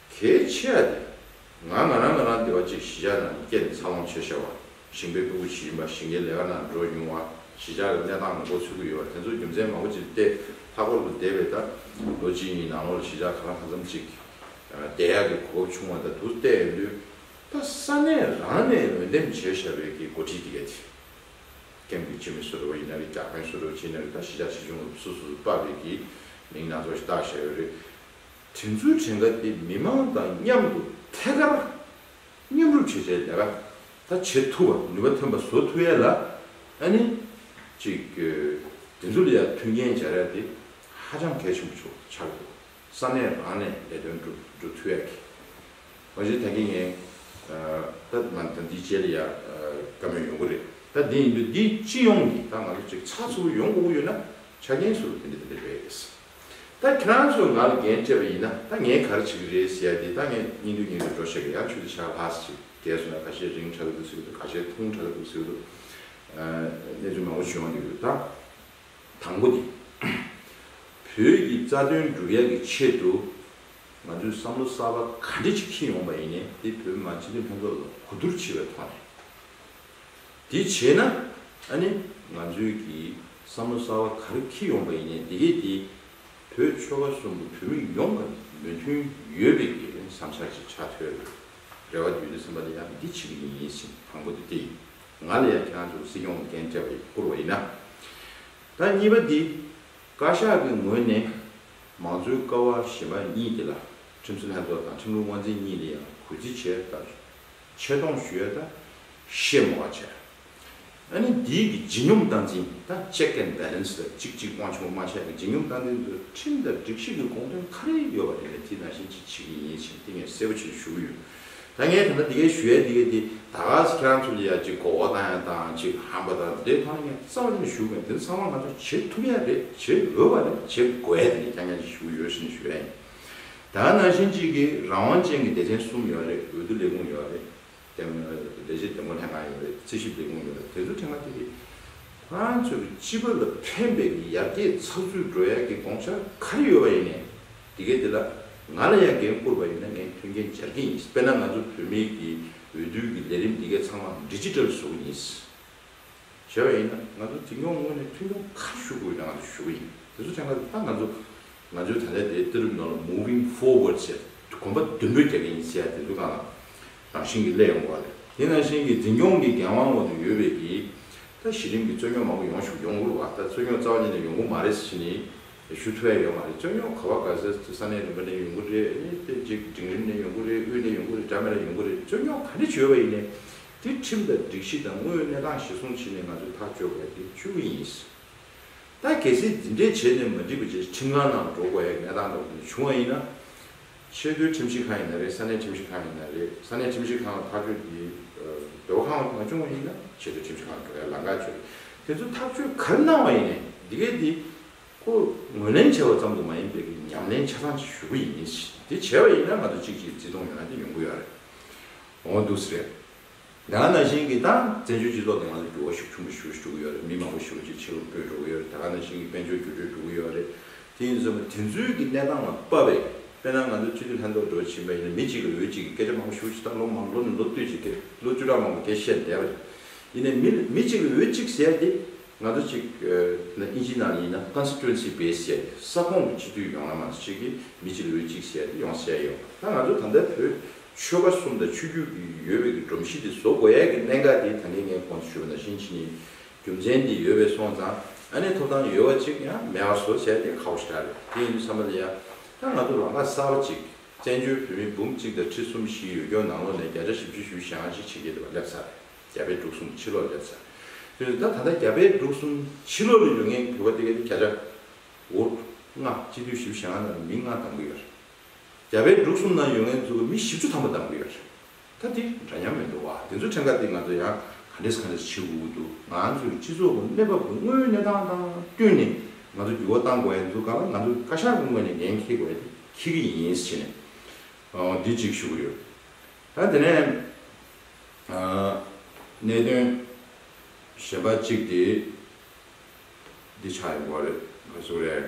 གལ་ཆེ་བ་དེ། ང་ང་རང་ང་རང་བདེ་བ་ཅེས་ཞི་འཇགས་ནང་གི་སྐད་འདི་ཚར་ལོངས་བྱེད་ཤོར་བ། ཞིང་པའི་སྤུ་གུ་ཇི་ཡིན་པ་ཞིང་ཁའི་ལས་ཀ་ནང་འགྲོ་མྱོང་བ་ཞི་འཇགས་ཀྱི་གནས་སྟངས་ལ་མགོ་ཚུད་ཀྱི་ཡོད་པ་དེ་ཚོ་རྒྱུ་མཚན་མང་པོ་ཅིག་སྟེ་ལྷག་པར་དུ་འདས་པའི་ད་ལོ་གཅིག་གཉིས་ནང་ལོགས་ལ་ཞི་འཇགས་ག་རང་ག་ཚམ་ཅིག་བསྡད་ཡག་གི་གོ་སྐབས་བྱུང་བ་ད་དུ་བལྟས་ཡོང་དུས། ད་ས་གནས་རང་ནས་འོས་འདེམས་བྱས་བཞག་པའི་གི་འགོ་ཁྲིད་དེ་གལ་ཆེ། ཀེམ་གི་སྤྱི་མི་སུ་རེ་བ་ཡིན་ན་རེ་རྒྱ་དཔོན་སུ་རེ་བ་ཅི་ཡིན་ན་རེ་ད་ཞི་འཇགས་ཆེ་ཆུང་ལ་སུ་སུ་སུ་དཔའ་བོས་གི་མིང་སྣ་ཚོགས་ཞིག་བཏགས་བཞག་ཡོད་རེད། དྲིན་གཟོའི་བྲེལ་འགའ་དེ་མི་མང་དང་མཉམ་དུ་ཐད་ཀར་མཉམ་རུབ་བྱེད་སའི་ལས་ཀ་ད་བྱེད་ཐུབ་པར་ནུས་པ་ཐོན་པ་བཟོ་ཐུབ་ཡས་ལ། ཨ་ནི། ཅིག། དྲིན་གཟོ་ལ་ཡང་མཐུན་རྐྱེན་སྦྱར་ཡས་དེ་ཧ་ཅང་གལ་ཆེན་པོ་ཆགས་འདུག་ས་གནས་རང་ནས་ལས་དོན་སྒྲུབ་ཐུབ་ཡས་ཀྱི། མ་གཞི་ད་གིན་ངའི། ད་ང་ད་འདི་བྱས་ལ་ཡ། དཀའ་མོད་ཡོང་གི་རེད་ད་དེ་ཡིན་དུས་འདི་སྤྱི་ཡོངས་ཀྱི་ད་ང་ཚོ་ཅིག་ཚགས་ཚུད་པོ་ཡོང་དགོས་ཀྱི་ཡོད་ན་ཆ་རྐྱེན་བཟོ་རུ་དེ་འདྲ་དེ་འདྲ་ཡོད་ཡས་ཀྱི། ད་ཁྱོད་རང་ཚོ་ང་ལ་འགན་སྤྲད་པ་ཡིན་ན་ད་ངས་ག་རེ་བྱེད་ཀྱི་རེད་ཟེར་ཡ་དེ་ད་ངས་སྙིང་དུས་སྙིང་དུས་འགྲོ་ཤག་གི་ཡར་ཆུ་དེ་ཤག་ལྷགས་ཤིག་བརྒལ་སོང་ན་ག་ཤེད་རིང་གྲག་གི་འདུག་ཟེར་གྱི་འདུག་ག་ཤེད་ཐུང་གྲག་གི་འདུག་ཟེར་གྱི་འདུག་གནས་ཚུལ་མང་པོ་བྱུང་ཡོང་གི་འདུག་ད། དང་པོ་དེ། བོད་ཀྱི་རྩ་དོན་སྒྲུབ་ཡག་གི་ཆེད་དུ་ང་ཚོས་བསམ་བློ་གསར་པ་ག་འདྲེ་ཅིག་ཁྱེར་ཡོང་པ་ཡིན་ནས་དེ་བོད་མི་མང་སྤྱི་འཐུས་ལྷན་ཚོགས་ལ་གོ་བསྡུར་བྱེད་པའི་ཐོག་ནས། དེ་བྱས་ན་ཨ་ནི་ང་ཚོའི་གི་བསམ་བློ་གསར་བ་ག་རེ་འཁྱིལ་ཡོང་པ་ཡིན་ནས་དེ་གས་དེ་བོད་ཆོལ་ཁ་གསུམ་གི་བོད་མི་ཡོངས་ཀ་མོས་མཐུན་ཡོད་པའི་གི་བསམ་འཆར་ཅིག་ཆ་ཐོས་རེད་རེ་བ་འདུས་འདུག་སེམས་པ་ལ་ཡང་འདི་བྱེད་གི་ཡིན་ཡིན་ཟིན་དང་པོ་དེ་དེ་ཡིན་ང་ལ་ཡང་ཁྱེད་རང་ཚོ་སྲིད་སྐྱོང་གི་འགན་སྤྲད་པ་ཡིན་བསྐུར་བ་ཡིན་ན་ད་གཉིས་པ་འདི་བཀའ་ཤག་གི་ངོས་ནས་མང་གཙོའི་ཀ་བ་གཞན་པ་གཉིས་དེ་ལ་ཁྲིམས་སྲིད་ལྷན་ཚོགས་དང་ཁྲིམས་ལུགས་དབང་འཛིན་གཉིས་ལ་ཡང་གུས་བརྩི་བྱས་ལྟར། ཆེ་མཐོང་ཞུས་ད་ཤེས་མོ་བ་བྱས། ཨ་ནི་འདིའི་གི་ལྗིད་སྙོམས་སྟངས་འཛིན་ད Check and Balance ད་ཅིག་ཅིག་དབང་ཆུང་མ་བྱས་གི་ལྗིད་སྙོམས་སྟངས་འཛིན་དུ་ཁྲིམས་དང་སྒྲིག་གཞི་གི་དགོངས་དོན་ག་རེ་ཡོད་པ་རེད་ལས་དེ་ན་བཞིན་ཅིག་བྱེད་གི་ཡིན་ཞེས་ཏིང་ངེ་གསལ་པོ་བྱེད་ཞུ་གི་ཡོད། ད་ངས་ད་ནི་འདི་གས་ཞུས་ཡ་འདི་གས་འདི་ད་གཟ་ཁྱེད་རང་ཚོ་ལ་ཡ་ཅིག་གོ་བ་དང་ཡ་དང་ཅིག་ཧམ་པ་དང་འདི་ཐོག་ནས་ངས་རྩ་བ་ནས་ཞུ་གི་མེད་འདི་ཚང་མ་ང་ཚོ་བྱེད་ཐུབ་ཡ་རེད་བྱེད་འོས་བ་རེད་བྱེད་དགོས་ཡ་དེ་ནས་ཀྱང་ཡ་ཅིག་ཞུ་གི་ཡོད་ཞེས་ནས་ཞུས་ཡ་ཡིན། ད་ནང་བཞིན་གཅིག་གིས་རང་དབང་ཅན་གྱི་བདེ་ཆེན་གསུམ་ཡོད་རེད་འོས་བསྡུ་ལས་ཁུངས་ཡོད་རེད། དེ་མིན་འོས་བསྡུ་ལས་བྱེད་དོན་གོ་ལྷན་ཁང་ཡོད་རེད་རྩིས་ཞིབ་ལས་ཁུངས་ཡོད་རེད་དེ་ཚོའི་ཕྲེང་བ་དེ་རེད། ཁོ་རང་ཚོས་ཀྱི་སྤྱི་པ་ལ་ཕན་པའི་གི་ཡར་རྒྱས་ཚགས་ཚུད་འགྲོ་ཡག་གི་དགོངས་འཆར་ག་རེ་ཡོད་པ་ཡིན་ནའི། དེ་གའི་དེ་ལ་ང་ལ་ཡང་འགན་ཁུར་པ་ཡིན་ན་ངས་མཐུན་རྐྱེན་སྦྱར་གྱི་ཡིན་དཔེར་ན་ང་ཚོ་བོད་མི་གི་འོས་བསྡུ་གི་ལས་རིམ་དེ་གའི་ཚང་མ་འབྲི་ཅི་ཏྲལ་བཟོ་གི་ཡིན། བྱས་པ་ཡིན་ན་ང་ཚོ་འཛིན་སྐྱོང་ངོས་ནས་མཐུན་རྐྱོང་ག་རེ་ཞུ་དགོས་ཡོད་ན་ང་ཚོ་ཞུ་གི་ཡིན་དེ་ཚོ་ཕྲེང་བ་དེ་ད་ང་ཚོ་ང་ཚོའི་ད་ལྟའི་དེའི་གཏེར་རིམ་ནང་ལ Moving Forward ཞེས་གོམ་པ་བདུན་པོས་རྒྱག་གིན་ཡིན་ཟེར་ཡ་དེ་ཚོ་གང་ལ་རང་བཞིན་གྱིས་སླད་ཡོང་དགོས་བ་རེད། དེ་ནང་བཞིན་གྱི་འཛིན་སྐྱོང་གི་འགན་དབང་འོག་ཏུ་ཡོད་བས་ཀྱི། ད་གཞི་རིམ་གྱི་རྩོད་རྙོག་མང་པོ་ཡོང་བཞུགས་ཡོང་དགོས་བ་ད་རྩོད་རྙོག་རྩ་བ་ཉིད་ནས་ཡོང་དགོས་མ་རེད་ཟེར་གྱིན་ཡིན། ཞུ་ཐུ་བས་ཡོད་མ་རེད་རྩོད་རྙོག་ག་བ་ག་ཟེར་ཏེ་ས་གནས་རིམ་པ་ནས་ཡོང་དགོས་རེད་དེ་རྗེས་འབྲིང་རིམ་ནས་ཡོང་དགོས་རེད་དབུས་ནས་ཡོང་དགོས་རེད་དྲ་མེད་ལ་ཡོང་དགོས་རེད་རྩོད་རྙོག་ག་འདྲི་བྱེད་ཡོད་བ་ཡིན་ནས། དེ་ཁྲིམས་དང་སྒྲིག་གཞི་དང་དངོས་ཡོད་གནས་སྟངས་གཞི་བཟུང་བྱེད་ནས་ང་ཚོས་ཐག་གཅོད་དགོས་བ་དེ་ཆུ་བོ་ཡིན། ད་གལ་སྲིད་འདི་འདྲས་བྱས་ནས་མ་འགྲིག་པ་ཆེད་ཁྲིམས་ཁང་ནང་འགྲོ་དགོས་ཡག་གནས་སྟངས་འགྲོ་དགོས་བྱུང་བ་ཡིན་ན། ཆེས་མཐོའི་ཁྲིམས་ཞིབ་ཁང་ཡིན་ན་རེད་ས་གནས་ཁྲིམས་ཞིབ་ཁང་ཡིན་ན་རེད་ས་གནས་ཁྲིམས་ཞིབ་ཁང་ལ་ཐག་གཅོད་དེ་སྡོད་ཁང་ལ་མ་བྱུང་བ་ཡིན་ན་ཆེས་མཐོའི་ཁྲིམས་ཞིབ་ཁང་འགྲོ་ཡག་ལ་འགའ་བྱོས་རེད་དེ་ཚོ་ཐག་གཅོད་གར་གནང་བ་ཡིན་ནས་འདི་གས་དེ་ཁོ་ངོས་ལེན་བྱས་བ་ཙམ་དུ་མ་ཡིན་པའི་གི་ཉམས་ལེན་ཆ་ཚང་ཅིག་ཞུ་གི་ཡིན་དེ་བྱས་བ་ཡིན་ན་ང་ཚོ་གཅིག་གཅིག་བརྩི་མཐོང་ཡོང་ན་དེ་ཡོང་གི་ཡོད་རེད་འོང་གི་འདུག་སེ་རེད། ཡང་ན་ཞིང་གི་དང་བཙན་བྱོལ་སྤྱི་ཚོགས་ནང་ལ་འགྱུར་བ་ཤུགས་ཆུང་པོ་ཞུ་བཞིན་འགྲོ་གི་ཡོད་རེད་མི་མང་པོ་ཞི་བ་བྱེད་ཕྱིར་ལོག་སྤོས་འགྲོ་གི་ཡོད་རེད་ད་ག་ནང་ཞིང་གི་དཔལ་འབྱོར་འགྱུར་འགྲོས་འགྲོ་གི་ཡོད་རེད་དེ་ཡིན་ཚོད་མ་དེ་ཚོའི་གི་གནས་སྟངས་ལ་དཔག་པས་དཔེར་ན་ང་ཚོ་སྤྱི་འཐུས་ལྷན་ཚོགས་འགྲོ་བཞིན་པ་ཡིན་ན་མི་གཅིག་གིས་འོས་གཅིག་གི་སྐད་ཆ་མང་པོ་ཞུ་བཞིན་ད་ལོ་མང་ལོ་ནས་ལོ་བསྟུད་ཅིག་གིས་ལོ་བཅུ་ཕྲག་མང་པོ་དེ་བཤད་བསྡད་པ་རེད་ཡིན་ནའི་མི་མི་གཅིག་གིས་འོས་གཅིག་ཟེར་ཏེ་ང་ཚོ་གཅིག་ན་ཨིན་ཇི་ནང་ཡིན་ན Constituency Base ཟེར་ཏེ་ས་ཁོངས་ཀྱི་སྤྱི་འཐུས་ཡོངས་ལ་ང་ཚོ་གཅིག་གིས་མི་གཅིག་གིས་འོས་གཅིག་ཟེར་ཏེ་ཡོངས་བཤད་ཡོད་པ་ད་ང་ཚོ་ད་ལྟའི་བོད་ཆོལ་ཁ་གསུམ་དང་ཆོས་བརྒྱུད་ཀྱི་ཡོད་པའི་གི་སྒྲོམ་གཞི་དེ་བཟོ་དགོས་ཡས་ཀྱི་གནད་འགག་དེ་ད་ངས་ངའི་ཁོང་དུ་ཞུ་བ་ན་ཤིང་ཕྱི་ནས་རྒྱུ་མཚན་དེ་ཡོད་པས་སོང་ཙང་ཨ་ནེ་ཐོབ་ཐང་ཡོད་བ་ཅིག་ཡང་མེད་བ་བཟོ་བྱས་ཏེ་ཁག་པོ་ཞིག་རག་རེད་དེ་ཡིན་དུས་ས་མ་ལ་ཡ། ད་ང་ཚོ་ལ་ངག་གསར་བ་ཅིག་བཙན་བྱོལ་བོད་མི་འབུམ་གཅིག་དང་ཁྲི་གསུམ་བཞི་ཡོད་སྐྱོང་ནང་ལོག་ནས་བརྒྱ་ཆ་བཞི་བཅུ་ཞུ་ཞེ་འང་ཞིག་བྱེད་ཀྱི་ཡོད་པ་སླེབས་ཚར་རེད་རྒྱ་བལ་འབྲུག་གསུམ་ཕྱི་ལོག་སླེབས་ཚར་དུས་ད་ད་ལྟ་རྒྱ་བལ་འབྲུག་གསུམ་ཕྱི་ལོག་ལ་ཡོད་ངེས་བོད་པ་དེ་ག་དེ་བརྒྱ་ཆ་ལྔ་སྤྱི་འཐུས་བཞི་བཞི་ཞེ་ང་ནང་ལ་མི་ལྔ་དང་པོ་ཡོད་རེད། རྒྱ་བལ་འབྲུག་གསུམ་ནང་ཡོད་མཁན་ཚོ་གི་མི་བཞི་བཅུ་ཐམ་པ་དམ་འབུལ་ཡོད་རེད། ད་འདི་འདྲ་མཉམ་མི་འདུག་བ། འདི་ཚོའི་ཕྲེང་ཀ་འདི་ང་ཚོ་ཡང་ག་འདྲེས་ག་འདྲེས་བྱེད་འུ་འདུག་ང་ཚོའི་སྤྱི་ཚོགས་ཀྱི་གནས་བབ་ཀྱི་དངོས་ཡོད་གནས་སྟངས་དང་བསྟུན་ནས་ང་ཚོ་འགྱུར་བ་གཏང་དགོས་ཡ་འདུག་ག་ལ་ང་ཚོ་བཀའ་ཤག་གི་ངོས་ནས་འགན་འཁྱེར་དགོས་ཡ་དེ་འཁྱེར་གྱི་ཡིན་ཟེར་བྱས་ནས་འདི་གཅིག་ཞུ་གི་ཡོད། ད་དེ་ནས་གནད་དོན་གཞན་པ་གཅིག་དེ་འདི་ཆགས་ཡོད་པ་རེད་ག་ཟེ་བ་རེད།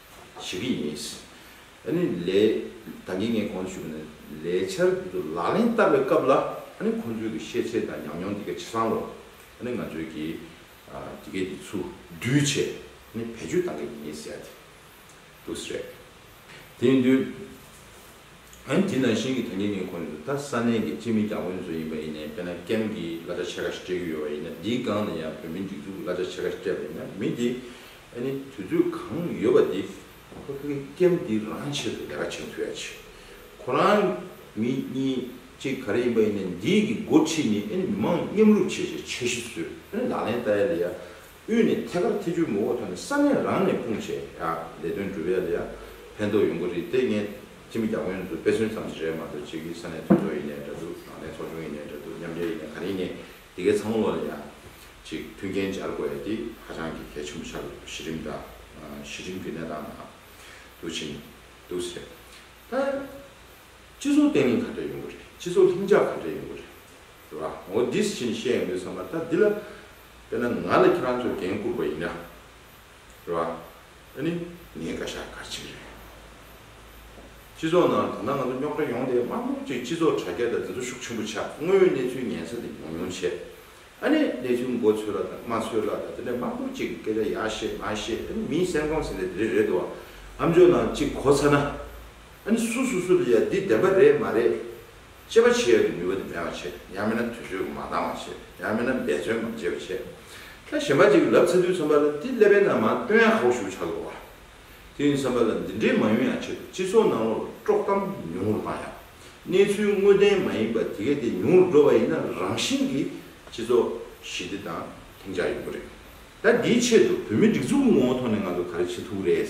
བྱེད་ཀྱི་ཡིན། ཨ་ནི་ལས། ད་ངས་ངས་གོང་དུ་ཞུས་པ་ནི་ལས་འཆར་འདི་ཚོ་ལག་ལེན་བསྟར་བའི་སྐབས་ལ་ཨ་ནི་ཁོང་ཚོའི་གི་ཤེས་ཚད་དང་ཉམས་མྱོང་འདི་ག་ཇི་ཙམ་ལོ། ཨ་ནི་ང་ཚོའི་གི་འདི་གའི་འདི་ཚོ་འདུས་ཆེད་ཨ་ནི་བེད་སྤྱོད་གཏང་གི་ཡིན་ཟེར་ཡ་དེ་འདུག་ཟེར། དེ་ཡིན་དུས། ཨ་ནི་དེ་ནང་བཞིན་གི་ད་ངས་ངས་གོང་དུ་ད་ས་གནས་གི་སྤྱི་མི་རྒྱ་དབོན་ཚོ་ཡིན་པ་ཡིན་ནས་དཔེར་ན་ཀེམ་གི་གླ་ཆ་ཕྱེད་ཀ་ཞིག་སྤྲད་ཀྱི་ཡོད་པ་ཡིན་ན་འདིའི་སྒང་ནས་ཡང་བོད་མིའི་སྒྲིག་འཛུགས་གི་གླ་ཆ་ཕྱེད་ཀ་སྤྲད་པ་ཡིན་ན་མི་དེ་ཨ་ནི་དུས་ཚོད་གང་ཡོད་པ་དེ་ཁོ་ཕོ་སྐྱབས་འདི་རང་ཆེད་དུ་ལས་ཀ་བྱེད་ཐུབ་ཡ་ཆེ། ཁོ་རང་མི་གཉིས་གཅིག་ག་རེ་ཡིན་པ་ཡིན་ན་འདིས་གི་འགོ་ཁྲིད་ནི་ཨ་ནི་མི་མང་མཉམ་རུབ་བྱེད་བྱེད་འཆར་གཞི་བཟོས་ཨ་ནི་ལག་ལེན་བསྟར་ཡ་ལེ་ཡ། དབུས་ནས་ཐད་ཀར་ཐེ་ཇུས་མོ་བོ་ཐོན་ནས་ས་གནས་རང་ནས་དཔུང་བྱས་ཡ་ལས་དོན་འགྲུབ་ཡ་ལེ་ཡ། ཕན་ཐོག་ཡོང་གི་རེད་དེ་ངས་སྤྱི་མི་རྒྱ་ཁོན་ཚོ་དཔེ་མཚོན་ཙམ་ཞིག་རེད་མ་གཏོགས་བྱེས་ཀྱི་ས་གནས་དོན་ཚོགས་ཡིན་ནའི་འདྲ་འདུག་ལག་ལེན་ཚོགས་ཆུང་ཡིན་ནའི་འདྲ་འདུག་མཉམ་འབྲེལ་ཡིན་ནའི་ག་རེ་ཡིན་ནའི་དེ་གའི་ཚ་མོ་ལོ་ལ་ཡང་ཅིག་མཐུན་རྐྱེན་སྦྱར་དགོས་ཡ་དེ་ཧ་ཅང་གི་གལ་ཆེན་པོ་ཆགས་ཡོད་གཞི་རིམ་དང་གཞི་རིམ་གྱི་གནས་སྟངས་དང་དུ་ཕྱིན་འདུག་ཟེར་ད་སྤྱི་ཚོགས་བརྟན་ལྷིང་ག་འདྲ་ཡོང་གི་རེད་སྤྱི་ཚོགས་ལྷིང་འཇགས་ག་འདྲ་ཡོང་གི་རེད་ཟེར་བ་ངོ་འདི་ཕྱིན་བཤད་ཡོང་དུས་བསམ་ན་ད་འདི་ལ་དཔེར་ན་ང་ལ་ཁྱེད་རང་ཚོས་འགན་བསྐུར་བ་ཡིན་ན། རེད་བ། ཨ་ནི་ངའི་བཀའ་ཤག་གར་བྱེད་རེད། སྤྱི་ཚོགས་ནང་ད་ལྟ་ང་ཚོ་རྙོག་དྲ་ཡོང་སྟེ་དམངས་གློག་ཅིག་སྤྱི་ཚོགས་དྲ་རྒྱ་དང་འཛིན་ཚོ་ཤུགས་ཆེན་པོ་ཆགས་དངོས་ཡོད་གནས་ཚུལ་ཉན་ས་དེ་ཉུང་ཉུང་བྱས། ཨ་ནི་གནས་ཚུལ་མགོ་ཚོས་ལ་དང་མ་ཚོས་ལ་དང་དེ་ནས་དམངས་གློག་ཅིག་གི་སྐད་ཆ་ཡག་ཤེས་མ་ཤེས་ཨ་ནི་མིའི་སེམས་ཁོང་ཟེར་ནས་དེ་རིགས་རེད་དོ། ཨམ་ཆོས་ནང་ཅིག་གོ་ཚ་ན། ཨ་ནི་སུ་སུ་སུ་ལ་ཡ་འདི་བདེན་པ་རེད་མ་རེད། དཔྱད་པ་བྱེད་ཡ་གི་ནུས་པ་དེ་མེད་པར་བྱེད། ཡང་མིན་ན་དུས་ཚོད་ཀྱི་མ་འདང་བར་བྱེད། ཡང་མིན་ན་འབད་བརྩོན་མ་བྱེད་པར་བྱེད། ད་གཞན་པ་ཅིག་ལབ་ཚེ་དུས་ཚོད་འབར་ལ་དེ་སླེབས་པའི་ནང་མ་བཏོན་ཡང་ཧ་བོ་ཞུགས་ཆགས་དགོས་པ། དེ་ཡིན་བསམ་པ་ལ་འདི་འདྲའི་མ་ཡོང་ཡང་ཆེད་དུ་སྤྱི་ཚོགས་ནང་ལོག་ལ་དཀྲོག་གཏམ་ཉུང་ངུར་བཏང་ཡང། གནས་ཚུལ་དངོས་བདེན་མ་ཡིན་པ་དེ་གས་དེ་ཉུང་རུ་འགྲོ་བ་ཡིན་ན་རང་བཞིན་གྱིས་སྤྱི་ཚོགས་ཞི་བདེ་དང་ལྷིང་འཇགས་ཡོང་གི་རེད། ད་འདིའི་ཆེད་དུ་བོད་མི་སྒྲིག་འཛུགས་ཀྱི་ངོ་བོ་ཐོག་ནས་ང་ཚོ་ག་རེ་བྱེད་ཐུབ་ཀི་རེད།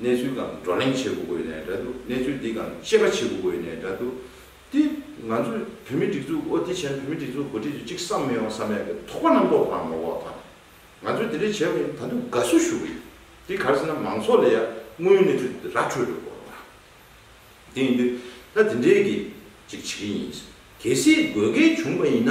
གནས་ཚུལ་གང་བགྲོ་གླེང་བྱེད་དགོས་དགོས་ནས་འདྲ་འདུག་གནས་ཚུལ་འདི་གང་དཔྱད་པ་བྱེད་དགོས་དགོས་ནས་འདྲ་འདུག་དེ་ང་ཚོས་བོད་མི་སྒྲིག་འཛུགས་ཨོ་དེ་བྱས་ན་བོད་མི་སྒྲིག་འཛུགས་འགོ་ཁྲིད་ཚོས་ཅིག་བསམ་མི་ཡོང་བསམ་ཡང་གི་དོགས་པ་རྣམ་རྟོག་གང་མང་བོ་དང། ང་ཚོས་དེ་འདྲས་བྱས་པ་ཡིན་ད་དུང་དགའ་བསུ་ཞུ་གི་ཡོད་དེ་ག་རེ་ཟེར་ན་མང་ཚོགས་ལ་ཡང་དངོས་ཡོད་གནས་ཚུལ་དེ་ར་འཕྲོད་དགོས་དགོས་པ་དང། དེ་ཡིན་དུས་ད་དེ་འདྲས་ཀྱི་ཅིག་བྱེད་ཀྱི་ཡིན། གལ་སྲིད་དགོས་གལ་བྱུང་བ་ཡིན་ན།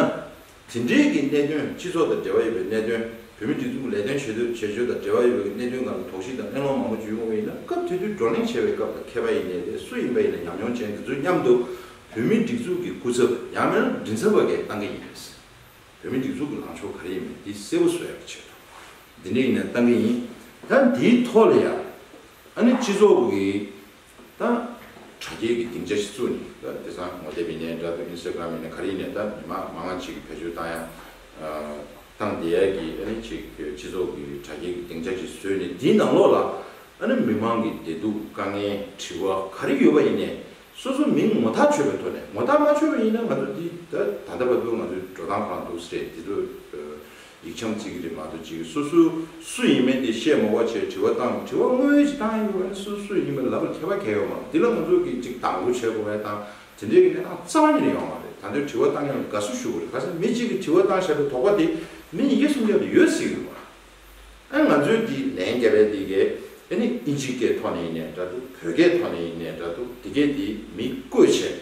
དེ་འབྲེལ་གྱི་གནད་དོན་སྤྱི་ཚོགས་དང་འབྲེལ་བ་ཡོད་པའི་གནད་དོན་བུད་མེད་སྒྲིག་འཛུགས་ལས་དོན་བྱེད་འདོད་བྱེད་སྤྱོད་དང་འབྲེལ་བ་ཡོད་པ་གྱི་གནད་དོན་འགའ་ལ་དོགས་གཞི་དང་གླེང་སློང་མང་པོ་བརྒྱུད་ཡོང་བས་ན་སྐབས་དེ་དུས་བགྲོ་གླེང་བྱེད་པའི་སྐབས་ལ་མཁས་པ་ཡིན་ནའི་རེད་སུ་ཡིན་པ་ཡིན་ན་ཉམས་མྱོང་ཅན་དེ་ཚོའི་མཉམ་དུ་བུད་མེད་སྒྲིག་འཛུགས་ཀྱི་སྐུ་ཚབ་ཡང་མིན་ལ་མགྲིན་ཚབ་བ་འགས་གཏང་གི་ཡིན་རེད་ཟེར་བུད་མེད་སྒྲིག་འཛུགས་ཀྱི་ལངས་ཕྱོགས་ག་རེ་ཡིན་མིན་འདི་གསལ་པོ་བཟོ་ཡག་པོ་བྱེད་ཐུབ། འདི་འདྲ་ཡིན་ནའི་གཏང་གི་ཡིན། ད་འདིའི་ཐོག་ལ་ཡང་ཨ་ནི་སྤྱི་ཚོགས་ཀྱི་དང། དྲ་རྒྱའི་གི་སྡིངས་ཆ་ཞིག་བཙུགས་ནས་ད་དེ་སང་ངོ་དེབ་ཡིན་ནས་དྲ་དུ Instagram ཡིན་ནས་ག་རེ་ཡིན་ནས་ད་མི་མང་མང་ལ་ཅིག་གི་བེད་སྤྱོད་བཏང་ཡང། བཏང་བསྡད་ཡས་གི་ཨ་ནི་ཅིག་སྤྱི་ཚོགས་གི་དྲ་རྒྱའི་གི་སྡིངས་ཆ་ཞིག་བཟོས་ནས་དེའི་ནང་ལོགས་ལ་ཨ་ནི་མི་མང་གི་བདེ་སྡུག་དཀའ་ངལ་དྲི་བ་ག་རེ་ཡོད་པ་ཡིན་ནས་སོ་སོ་མིང་ངོ་ཐག་ཆོད་པའི་ཐོག་ནས་ངོ་ཐག་མ་ཆོད་པ་ཡིན་ན་ང་ཚོ་འདི་ད་ད་ལྟ་བར་དུ་ང་ཚོའི་འགྲོ་སྟངས་གང་འདུག་སེ་རེད་འདི་ཚོ་ཡིག་ཆའམ་ཚིག་གི་རིགས་མ་གཏོགས་ཅིག་སོ་སོའི་སུ་ཡིན་མིན་དེ་བཤད་མ་བོ་ཆེ་དྲི་བ་བཏང་དྲི་བ་དངོས་ཡོད་ཀྱི་སྟངས་ཡིན་དགོས་པ་ནི་སོ་སོ་སུ་ཡིན་མིན་ལབ་པར་མཁས་པ་གལ་ཡོད་མང་འདི་ལ་ང་ཚོ་གིས་ཅིག་དང་པོ་བྱེད་དགོས་པའི་དང་དེ་འབྲེལ་གྱི་གནས་སྟངས་རྩ་བ་ཉིད་ནས་ཡོང་བ་རེད་ད་ལྟའི་དྲི་བ་བཏང་མཁན་ལ་དགའ་བསུ་ཞུ་དགོས་རེད་གལ་སྲིད་མི་གཅིག་གིས་དྲི་བ་བཏང་བཞག་པའི་དོགས་པ་དེ་མི་ཉིས་བརྒྱ་སུམ་བརྒྱ་དུ་ཡོད་སྲིད་དགོས་པ་ཨ་ང་ཚོའི་འདི་ལན་རྒྱ་བལ་འདི་གས་ཨེ་ནི་ཨིན་ཇི་སྐད་ཐོག་ནས་ཡིན་ནས་འདྲ་འདུག་བོད་སྐད་ཐོག་ནས་ཡིན་ནས་འདྲ་འདུག་འདི་སྐད་དེ་མི་བཀོད་བྱས།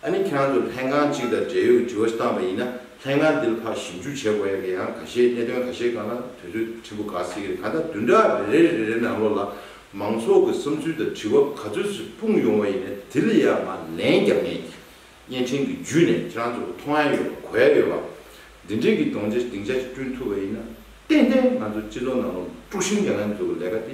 ཨ་ནི་ཁྱེད་རང་ཚོ་ལྷན་ཁང་གཅིག་དང་འབྲེལ་ཡོད་ཀྱི་དྲི་བ་ཞིག་བཏང་བ་ཡིན་ན་ལྷན་ཁང་འདི་ལ་ཕར་ཞིབ་འཇུག་བྱེད་དགོས་ཡོད་ཀྱི་ཡང་ག་ཤེད་གནད་དོན་ག་ཤེད་གང་ན་དུས་ཚོད་ཕྲན་བུ་འགག་སྲིད་ཀྱི་རེད་ད་ལྟ་བདུན་ཕྲག་རེ་རེ་རེ་རེ་ནང་ལོགས་ལ་མང་ཚོགས་ཀྱི་བསམ་ཚུལ་དང་དྲི་བ་ག་ཚོད་ཅིག་སྤུངས་ཡོང་བ་ཡིན་ན་དེ་ལ་ཡང་ང་ལན་རྒྱབ་ངེས་ཀྱི་བརྙན་འཕྲིན་གྱི་བརྒྱུད་ནས་ཁྱེད་རང་ཚོ་ལ་མཐོང་ཡ་ཡོད་པ་གོ་ཡ་ཡོད་པ་འདི་འདྲིའི་གྱི་གདོང་ཆ་སྡིངས་ཆ་ཅིག་བསྐྲུན་ཐུབ་པ་ཡིན་ན་ཏན་ཏན་ང་ཚོ་སྤྱི་ཚོགས་ནང་ལོགས་དཀྲུགས་ཤིང་རྒྱག་ངན་འདུག་ལས་ཀ་དེ་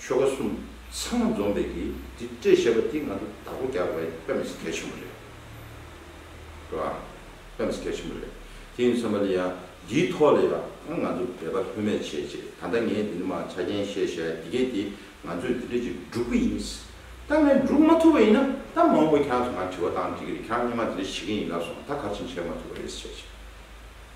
ཆོལ་ཁ་གསུམ་ཚང་མ་འཛོམས་པའི་གི་འདི་སྤྲད་ཞེས་པ་འདི་ང་ཚོ་བདག་པོ་རྒྱག་པའི་དཔེ་མི་སྲིད་གལ་ཆེན་པོ་རེད། རེད་བ། དཔེ་མི་སྲིད་གལ་ཆེན་པོ་རེད། དེ་ཡིན་བསམ་པ་ལ་ཡང་འདིའི་ཐོག་ལ་ཡང་ང་ཚོ་འབད་པ་ལྷོད་མེད་བྱེད་ཅེས་ད་ལྟ་ངས་འདི་འདི་མ་ཆ་རྐྱེན་བཤད་བཤད་ཡ་འདི་སྐད་དེ་ང་ཚོས་འདི་འདྲ་ཅིག་བསྒྲུབ་གི་ཡིན། ད་ངས་བསྒྲུབ་མ་ཐུབ་པ་ཡིན་ན་ད་མ་འོངས་པ་ཁྱེད་རང་ཚོ་ང་དྲི་བ་བཏང་འདྲི་གི་རེད་ཁྱེད་རང་གཉིས་མ་འདི་འདྲ་བྱེད་ཀྱིན་ཡིན་ལབ་སོང་ད་ག་རེ་བྱེད་མ་ཐུབ་པ་རེད་ཅེས་བཤད།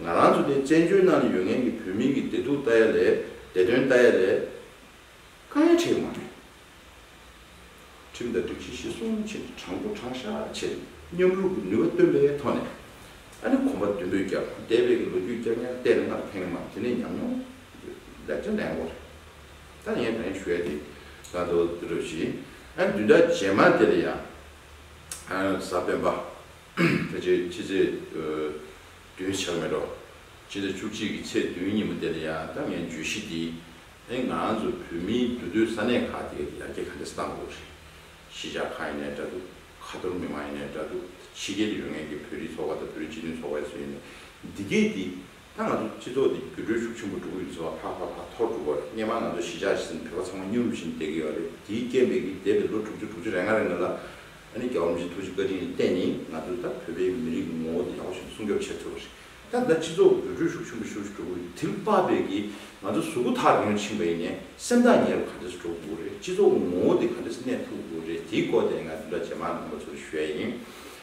ང་རང་ཚོ་དེ་བཙན་བྱོལ་ནང་ནས་ཡོད་མཁན་གྱི་བོད་མིང་གི་བདེ་སྡུག་ལྟ་ཡ་ལས་བདེ་དོན་ལྟ་ཡ་ལས། དཀའ་ཡ་བྲལ་མ་རེད། ཁྲིམས་དང་སྒྲིག་གཞི་གཞི་སྲུང་བྱེད་ཀྱི་དྲང་པོ་དྲང་ཤ་བྱེད་ནས་མཉམ་རུབ་ཀྱི་ནུས་པ་བཏོན་པའི་ཐོག་ནས། ཨ་ནི་གོམ་པ་མདུན་སྤོས་རྒྱག་དང་འདས་པའི་གི་ལོ་རྒྱུས་བསྐྱར་ཉར་བལྟས་ན་སྔར་ཕན་མ་དེ་ནས་ཉམས་མྱོང་ལེགས་ཆ་ལེན་འོ་རེད། ད་ངས་དང་ཡང་ཞུ་ཡ་དེ། ད་དོ་དོ་བཞིན་ཨ་ནི་བདུན་ཕྲག་རྗེས་མ་དེ་ལ་ཡང། ཨ་ནི་ས་བོན་པ། དེ་ཚེ་ཕྱི་ཚེས་བདུན་ཆགས་མེད་རོགས། ཕྱི་ཟླ་བཅུ་གཅིག་གི་ཚེས་བདུན་ཉིན་མོ་དེ་ལ་ཡང་ད་ངས་བརྗོད་གཞི་འདི་ཨེ་ང་ཚོ་བོད་མིའི་འདུ་སྡོད་ས་གནས་ཁག་དེ་ག་དེ་ཡར་རྒྱས་ག་འདྲ་བཏང་དགོས་རེད། གཞིས་ཆགས་ཁག་ཡིན་ནའི་འདྲ་འདུག་ཁ་ཐོར་མི་མང་ཡིན་ནའི་འདྲ་འདུག་ཕྱི་རྒྱལ་དུ་ཡོད་མཁན་གྱི་བོད་རིགས་ཚོགས་པ་དང་བོད་རིགས་སྤྱི་མཐུན་ཚོགས་པའི་ཚོ་ཡིན་ནའི་འདི་གས་དེ་ད་ང་ཚོ་སྤྱི་ཚོགས་འདི་འགྱུར་འགྲོས་ཤུགས་ཆེན་པོ་འགྲོ་གི་ཡོད་ཟེར་བ་ཧ་ཧ་ཧ་ཐོར་འགྲོ་གི་བ་རེད་སྙན་མ་ང་ཚོ་གཞིས་ཆགས་ཟིན་བོད་པ་ཚང་མ་སྙིང་རུས་བཞིན་བསྡད་གི་ཡོད་བ་རེད་དེའི་རྐྱེན་པས་ཀྱིས་འདས་པའི་ལོ་དྲུག་ཅུ་དྲུག་ཅུ་རེ་ལྔ་རེ་ང་ལ་ཨ་ནི་རྒྱ་བོ་མི་ཆེ་ཐུགས་རྗེ་བཀའ་དྲིན་ལས་བརྟེན་ནི་ང་ཚོས་ད་བོད་པའི་མི་རིགས་ཀྱི་ངོ་བོ་འདི་ཡག་པོ་བཞིན་སྲུང་སྐྱོབ་བྱེད་ཐུབ་བ་རེད་ད་ང་སྤྱི་ཚོགས་འགྱུར་འགྲོས་ཤུགས་ཆེན་པོ་ཤུགས་ཤུགས་འགྲོ་གི་དིལ་པ་བས་ཀྱིས་ང་ཚོ་གཟུགས་པོ་ཐག་རིང་རུ་ཕྱིན་པ་ཡིན་ནས་སེམས་ཐག་ཉེ་རུ་ག་འདྲས་སུ་འགྲོ་དགོས་རེད་སྤྱི་ཚོགས་ཀྱི་ངོ་བོ་འདི་ག་འདྲས་སུ་གནས་ཐུབ་དགོས་རེད་དེའི་སྐོར་ཐད་ནས་ང་འདི་འདྲ་ཇེ་མང་དུ་ཡོང་བ་ཚོར་ཞུ་ཡ་ཡིན་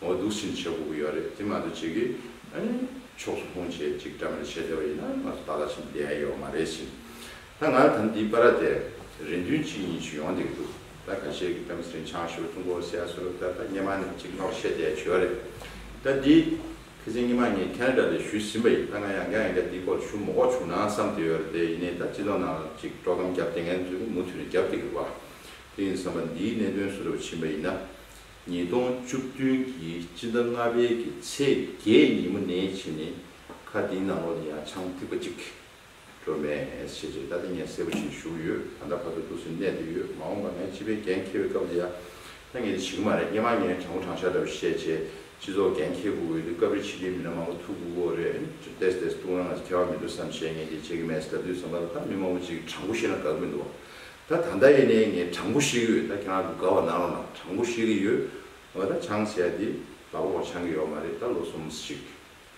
ངོ་སྡུག་སྲིན་བྱེད་སྒུག་གི་ཡོད་རེད་དེ་མ་གཏོགས་ཅིག་གིས་ཨེ། ཕྱོགས་སུ་ལྷུང་བྱེད་ཅིག་འདྲ་མིན་བྱེད་བདེ་བ་ཡིན་ན་ང་ཚོ་ཏཱ་ལ་ཞིག་བསྡད་ཡོད་མ་རེད་ཟིན། ད་ང་ད་འདི་པ་ར་དེ་རེ་འདུན་གཅིག་གཉིས་ཆུ་ཡོང་བསྡད་ཀྱི་འདུག་ད་ཁ་ཤས་ཀྱིས་ཏམ་སྲིན་ཆང་ཤོར་ཀྲུང་གོར་སེ་ཨ་སོ་རབ་ད་ད་སྙེ་མ་ནས་གཅིག་ལྷོག་བཤད་བསྡད་བྱོས་རེད། ད་འདི། ཁེ་ཚེ་སྙེ་མ་ངས་ཁེ་ན་དྲ་ལས་ཞུས་ཟིན་པ་ཡིན་ད་ང་ཡང་འགའ་ཡང་འགའ་འདི་སྐོར་ལ་ཞུ་མོ་ཀོག་བྱུང་ན་བསམ་བསྡད་ཡོད་རེད་དེ་ཡིན་ནས་ད་སྤྱི་ལོ་ནང་ལ་ཅིག་སྤྲོ་སྐམ་བརྒྱབ་བསྡད་མཁན་ཚོས་ཀྱང་མུ་མཐུད་ནས་བརྒྱབ་བསྡད་ཀྱི་འདུག་བ་དེ་ཡིན་བསམ་པ་འདིའི་གནད་དོན་སུ་རེ་བ་ཕྱིན་པ་ཡིན་ན། ཉིས་སྟོང་བཅུ་བདུན་གྱི་སྤྱི་ཟླ་ལྔ་པའི་གི་ཚེས་བརྒྱད་ཉིན་མོ་ནས་ཕྱིན་ནས་ཁ་འདིའི་ནང་ལོག་ནས་ཡང་ཆང་ཐིགས་པ་གཅིག་འགྲོ་མེད་ཞེས་རྗེས་ད་ལྟ་ངས་གསལ་པོ་བྱེད་བཞུགས་ཡོད་ད་ལྟ་ཕ་ཚོ་སྡུག་སེམས་གནས་འདི་ཡོད་མ་འོངས་པ་ངས་སྤྱི་པའི་འགན་འཁྱེར་བའི་སྐབས་འདི་ཡ་ད་ངས་འདི་བྱེད་གི་མ་རེད་སྙེ་མ་ངས་དྲང་པོ་དྲང་བཞག་འདྲ་བོ་བཤད་བྱས་སྤྱི་ཚོགས་འགན་འཁྱེར་དགོས་གི་འདུག་སྐབས་རེ་ཕྱི་རྒྱལ་མི་སྣ་མང་པོ་ཐུག་གི་འོ་རེད་ཅེས་བལྟས་སུ་བལྟས་སུ་ལྟུང་རང་ང་ཚོ་མཁས་པ་མི་འདུག་བསམ་བྱས་ངས་འདི་བྱེད་གི་མེད་ཟེར་ད་དུས་བསམ་པ་ད་མི་མང་པོ་ཅིག་དྲང་པོ་བཤད་ན་དགའ་གི་མི་འདུག་བ་ད་ད་ལྟ་ཡིན་ནའི་ངས་དྲང་པོ་བཤད་གི་ཡོད་ད་ཁྱེད་རང་ཚོ་དགའ་བ་གནང་རོགས་གནང་དྲང་པོ་བཤད་གི་ཡོད་ང་ད་ཆང་ཟས་དེ་ལག་པ་བ་ཆང་གི་ཡོག་མ་རེད་ད་ལོ་གསུམ་ཞིག་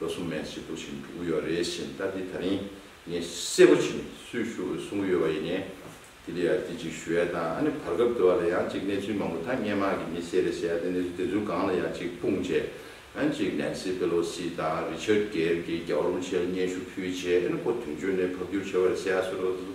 ལོ་གསུམ་མན་ཞིག་འདུག་བཞིན་འགྲོ་གི་ཡོག་རེད་བཞིན་ད་དེ་ད་རིང་ངས་གསལ་པོ་བཞིན་སུས་ཞུ་འོས་གསུང་གི་ཡོད་བ་ཡིན་ནའི་དེ་ལ་ཡང་དེ་ཅིག་ཞུ་ཡ་དང་ཨ་ནི་བར་སྐབས་དེ་བ་ལ་ཡང་ཅིག་གནས་ཚུལ་མང་པོ་ད་སྔས་མ་གི་མི་སེར་རེད་ཟེར་ཡ་དེ་གནས་ཚུལ་དེ་ཚོའི་སྒང་ལ་ཡང་ཅིག་སྤུངས་རྗེས་ཨ་ནི་ཅིག་ནན་སི་པེ་ལོ་སི་དང་རི་ཆར་གེར་གྱི་རྒྱ་བ་རུ་མཆེལ་སྙན་ཞུ་ཕུལ་རྗེས་ཨ་ནི་ཁོ་དོན་གཅོད་ནས་ཕབ་སྒྱུར་བྱས་བ་རེད་ཟེར་ཡ་སུ་རེད་བ་དེ་ཚོ་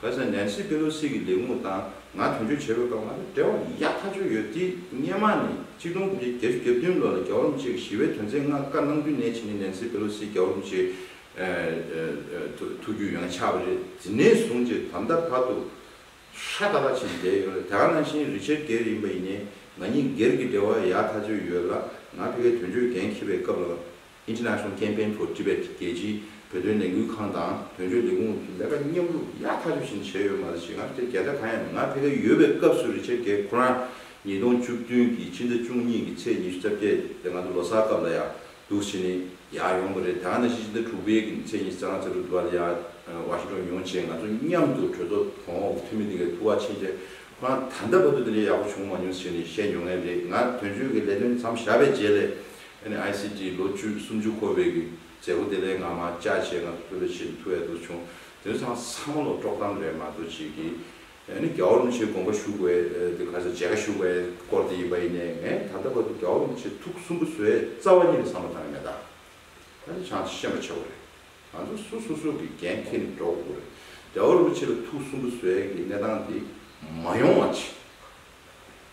བོད་ས་ནན་སི་པེ་ལོ་སི་གི་ལས་ཁུངས་དང་ང་དོན་གཅོད་བྱེད་དགོས་སྐབས་ང་ལ་འབྲེལ་བ་ཡག་ཐག་ཆོད་ཡོད་དེ་སྙེ་མ་ནས་གཅིག་སྟོང་དགུ་བརྒྱ་བརྒྱད་ཅུ་གྱ་བདུན་ལོ་ལ་རྒྱ་བོར་མི་གཅིག་གི་ཞི་བའི་དོན་ཚན་ལྔ་བཀའ་གནང་དུས་ནས་བྱས་ནས་ནན་སི་པེ་ལོ་སི་རྒྱ་བོར་མི་གཅིག་ཐུགས་རྒྱུད་ཡང་ཆགས་པ་རེད་དེ་ནས་བཟུང་སྤྱིར་དམ་ད་བར་དུ་ཧྲ་ད་པ་བྱས་ནས་བསྡད་ཡོད་ལ་དེ་ག་ནང་བཞིན་རི་ཆེར་སྒེར་ཡིན་པ་ཡིན་ནས་ང་གཉིས་སྒེར་གྱི་འབྲེལ་བ་ཡག་ཐག་ཆོད་ཡོད་ལ་ང་ཕི་གའི་དོན་གཅོད་འགན་འཁྱེར་བའི་སྐབས་ལ International Campaign for Tibet རྒྱལ་སྤྱིའི་བོད་དོན་ལས་འགུལ་ཁང་དང་དོན་གཅོད་ལས་ཁུངས་ཀྱི་ལས་ཀ་མཉམ་རུབ་ཡག་ཐག་ཆོད་བཞིན་བྱས་ཡོད་མ་རེད་ཞེ་སྔར་སྟེ་རྒྱལ་ས་གང་ཡང་མེད་ང་ཕལ་སྐད་ཡོད་པའི་སྐབས་སུ་རི་ཆེ་གེ་ཁོ་རང་ཉིས་སྟོང་བཅུ་བདུན་གྱི་ཕྱི་ཟླ་བཅུ་གཉིས་ཀྱི་ཚེས་ཉི་ཤུ་རྩ་བརྒྱད་སྟེ་ང་ཚོ་ལོ་སར་སྐབས་ལ་ཡག་སྡུག་བྱེད་ནི་ཡག་ཡོང་པ་རེད་ད་ང་ནང་བཞིན་ཕྱི་ཟླ་དྲུག་པའི་གི་ཚེས་ཉི་ཤུ་རྩ་ལྔ་ཚེ་དྲུག་བདུན་པ་ལ་ཡག་བ་ཤི་འགྲོ་མྱོང་བྱས་ང་ཚོ་མཉམ་དུ་གྲོས་ཚོགས་གོང་འོག་གི་འཐུས་མི་དེ་གའི་ཐུགས་ཁག་ཆེན་བཅས་ཁོ་རང་ད་ལྟ་བར་དུ་དེ་འདྲའི་ཡག་པོ་བྱུང་མ་མྱོང་ཟེར་ནས་བཤད་མྱོང་ངེས་རེད་ང་དོན་གཅོད་ཀྱི་ལས་དོན་མཚམས་བཞག་པའི་རྗེས་ལས NICT ལོ་བཅུ་སུམ་ཅུ་འཁོར་བའི་གི་མཛད་སྒོ་དེ་ལས་སྔ་མ་བཅའ་བྱས་ང་ཚོ་ཕུད་ལ་ཕྱིན་ཐུ་ཨེ་འདུག་བྱུང་དོན་ཚང་ཚང་མ་ལོ་དཀྲོག་གཏམ་རེད་མ་འདུག་ཅིག་གི་ཨེ་ནི་གའུ་རུང་ཆེ་དགོངས་པ་ཞུ་དགོས་དེ་ག་ཚོད་བྱས་ག་ཞུ་བའི་སྐོར་དེ་ཡིན་པ་ཡིན་ནའི་ངས་ད་ལྟ་བར་དུ་གའུ་རུང་ཆེ་ཐུགས་གསུམ་པོ་བཟོའི་རྩ་བ་ཉིད་ལ་བསམ་པ་བཏང་གི་མེད་ད་ད་ནི་བྱང་ཤེས་པ་ཆེ་བོ་རེད་ང་ཚོ་སུ་སོ་སོ་གི་འགན་ཁྱེར་ནས་འགྲོ་དགོས་རེད་གའུ་རུང་ཆེ་ལ་ཐུགས་གསུམ་པོ་བཟོའི་གི་གནས་སྟངས་དེ་མ་ཡོང་བ་ཅིག།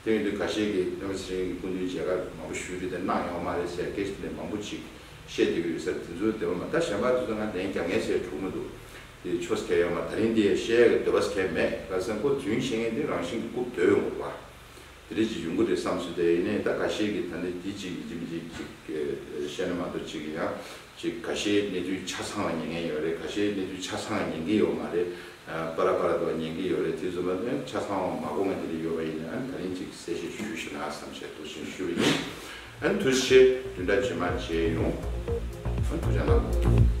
སྟེང་དུ་ག་ཤེད་ཀྱི་བོད་མི་ཚེ་རིང་གི་སྐུ་མདུན་མཇལ་ཁ་མང་པོ་ཞུས་འདྲི་དེ་གནང་ཡོང་བ་མ་རེད་ཟེར་སྐད་ཆ་ནི་མང་པོ་ཅིག་བཤད་འདོད་ཀྱི་ཡོད་ཟེར་དེ་ཚོའི་འདོད་པ་མ་ད་གཞན་པ་དེ་ཚོ་ང་ལན་རྒྱག་ངེས་ཟེར་འཁྲུག་མི་འདུག་དེ་ཆོ་ཟེར་ཡོང་བ་ད་རིང་དེ་བཤད་ཡག་གི་འདོད་པ་ཟེར་མེད་ལ་སེམས་ཁོ་དུས་ཡུན་ཤེས་མཁན་དེ་རང་བཞིན་གྱི་རྐུབ་དོད་ཡོང་བ་དེ་རེད་ཅིག་ཡོང་གི་རེད་བསམ་ཚུལ་དེ་ཡིན་ནའི་ད་ག་ཤེད་ཀྱི་ད་ནི་དེ་ཅིག་མི་བྱེད་མི་བྱེད་ཅིག་བཤད་ན་མ་གཏོགས་ཅིག་ཡང་ཅིག་ག་ཤེད་གནས་ཚུལ་ཆ་ཚང་བ་ཉན་མཁན་ཡོད་རེད་ག་ཤེད་གནས་ཚུལ་ཆ་ཚང་བ་ཉན་གི་ཡོད་མ་རེད། པ་ར་པ་ར་འདུག་ཉན་གི་ཡོད་རེད་དེ་བཟོ་མ་ནི་ཆ་ཚང་བ་མ་གོ་ང་དེ་རིགས་ཡོད་པ་ཡིན་ན་ད་རིང་ཅིག་གསལ་བཤད་ཞུ་ཞེ་ན་བསམ་བྱས་འདུག་ཅིང་ཞུ་རེ་ཡིན། དུ་བཤད་དུས་འདྲ་ཇི་མ་བྱས་ཡོང། ཐུགས་རྗེ་གནང་དགོས།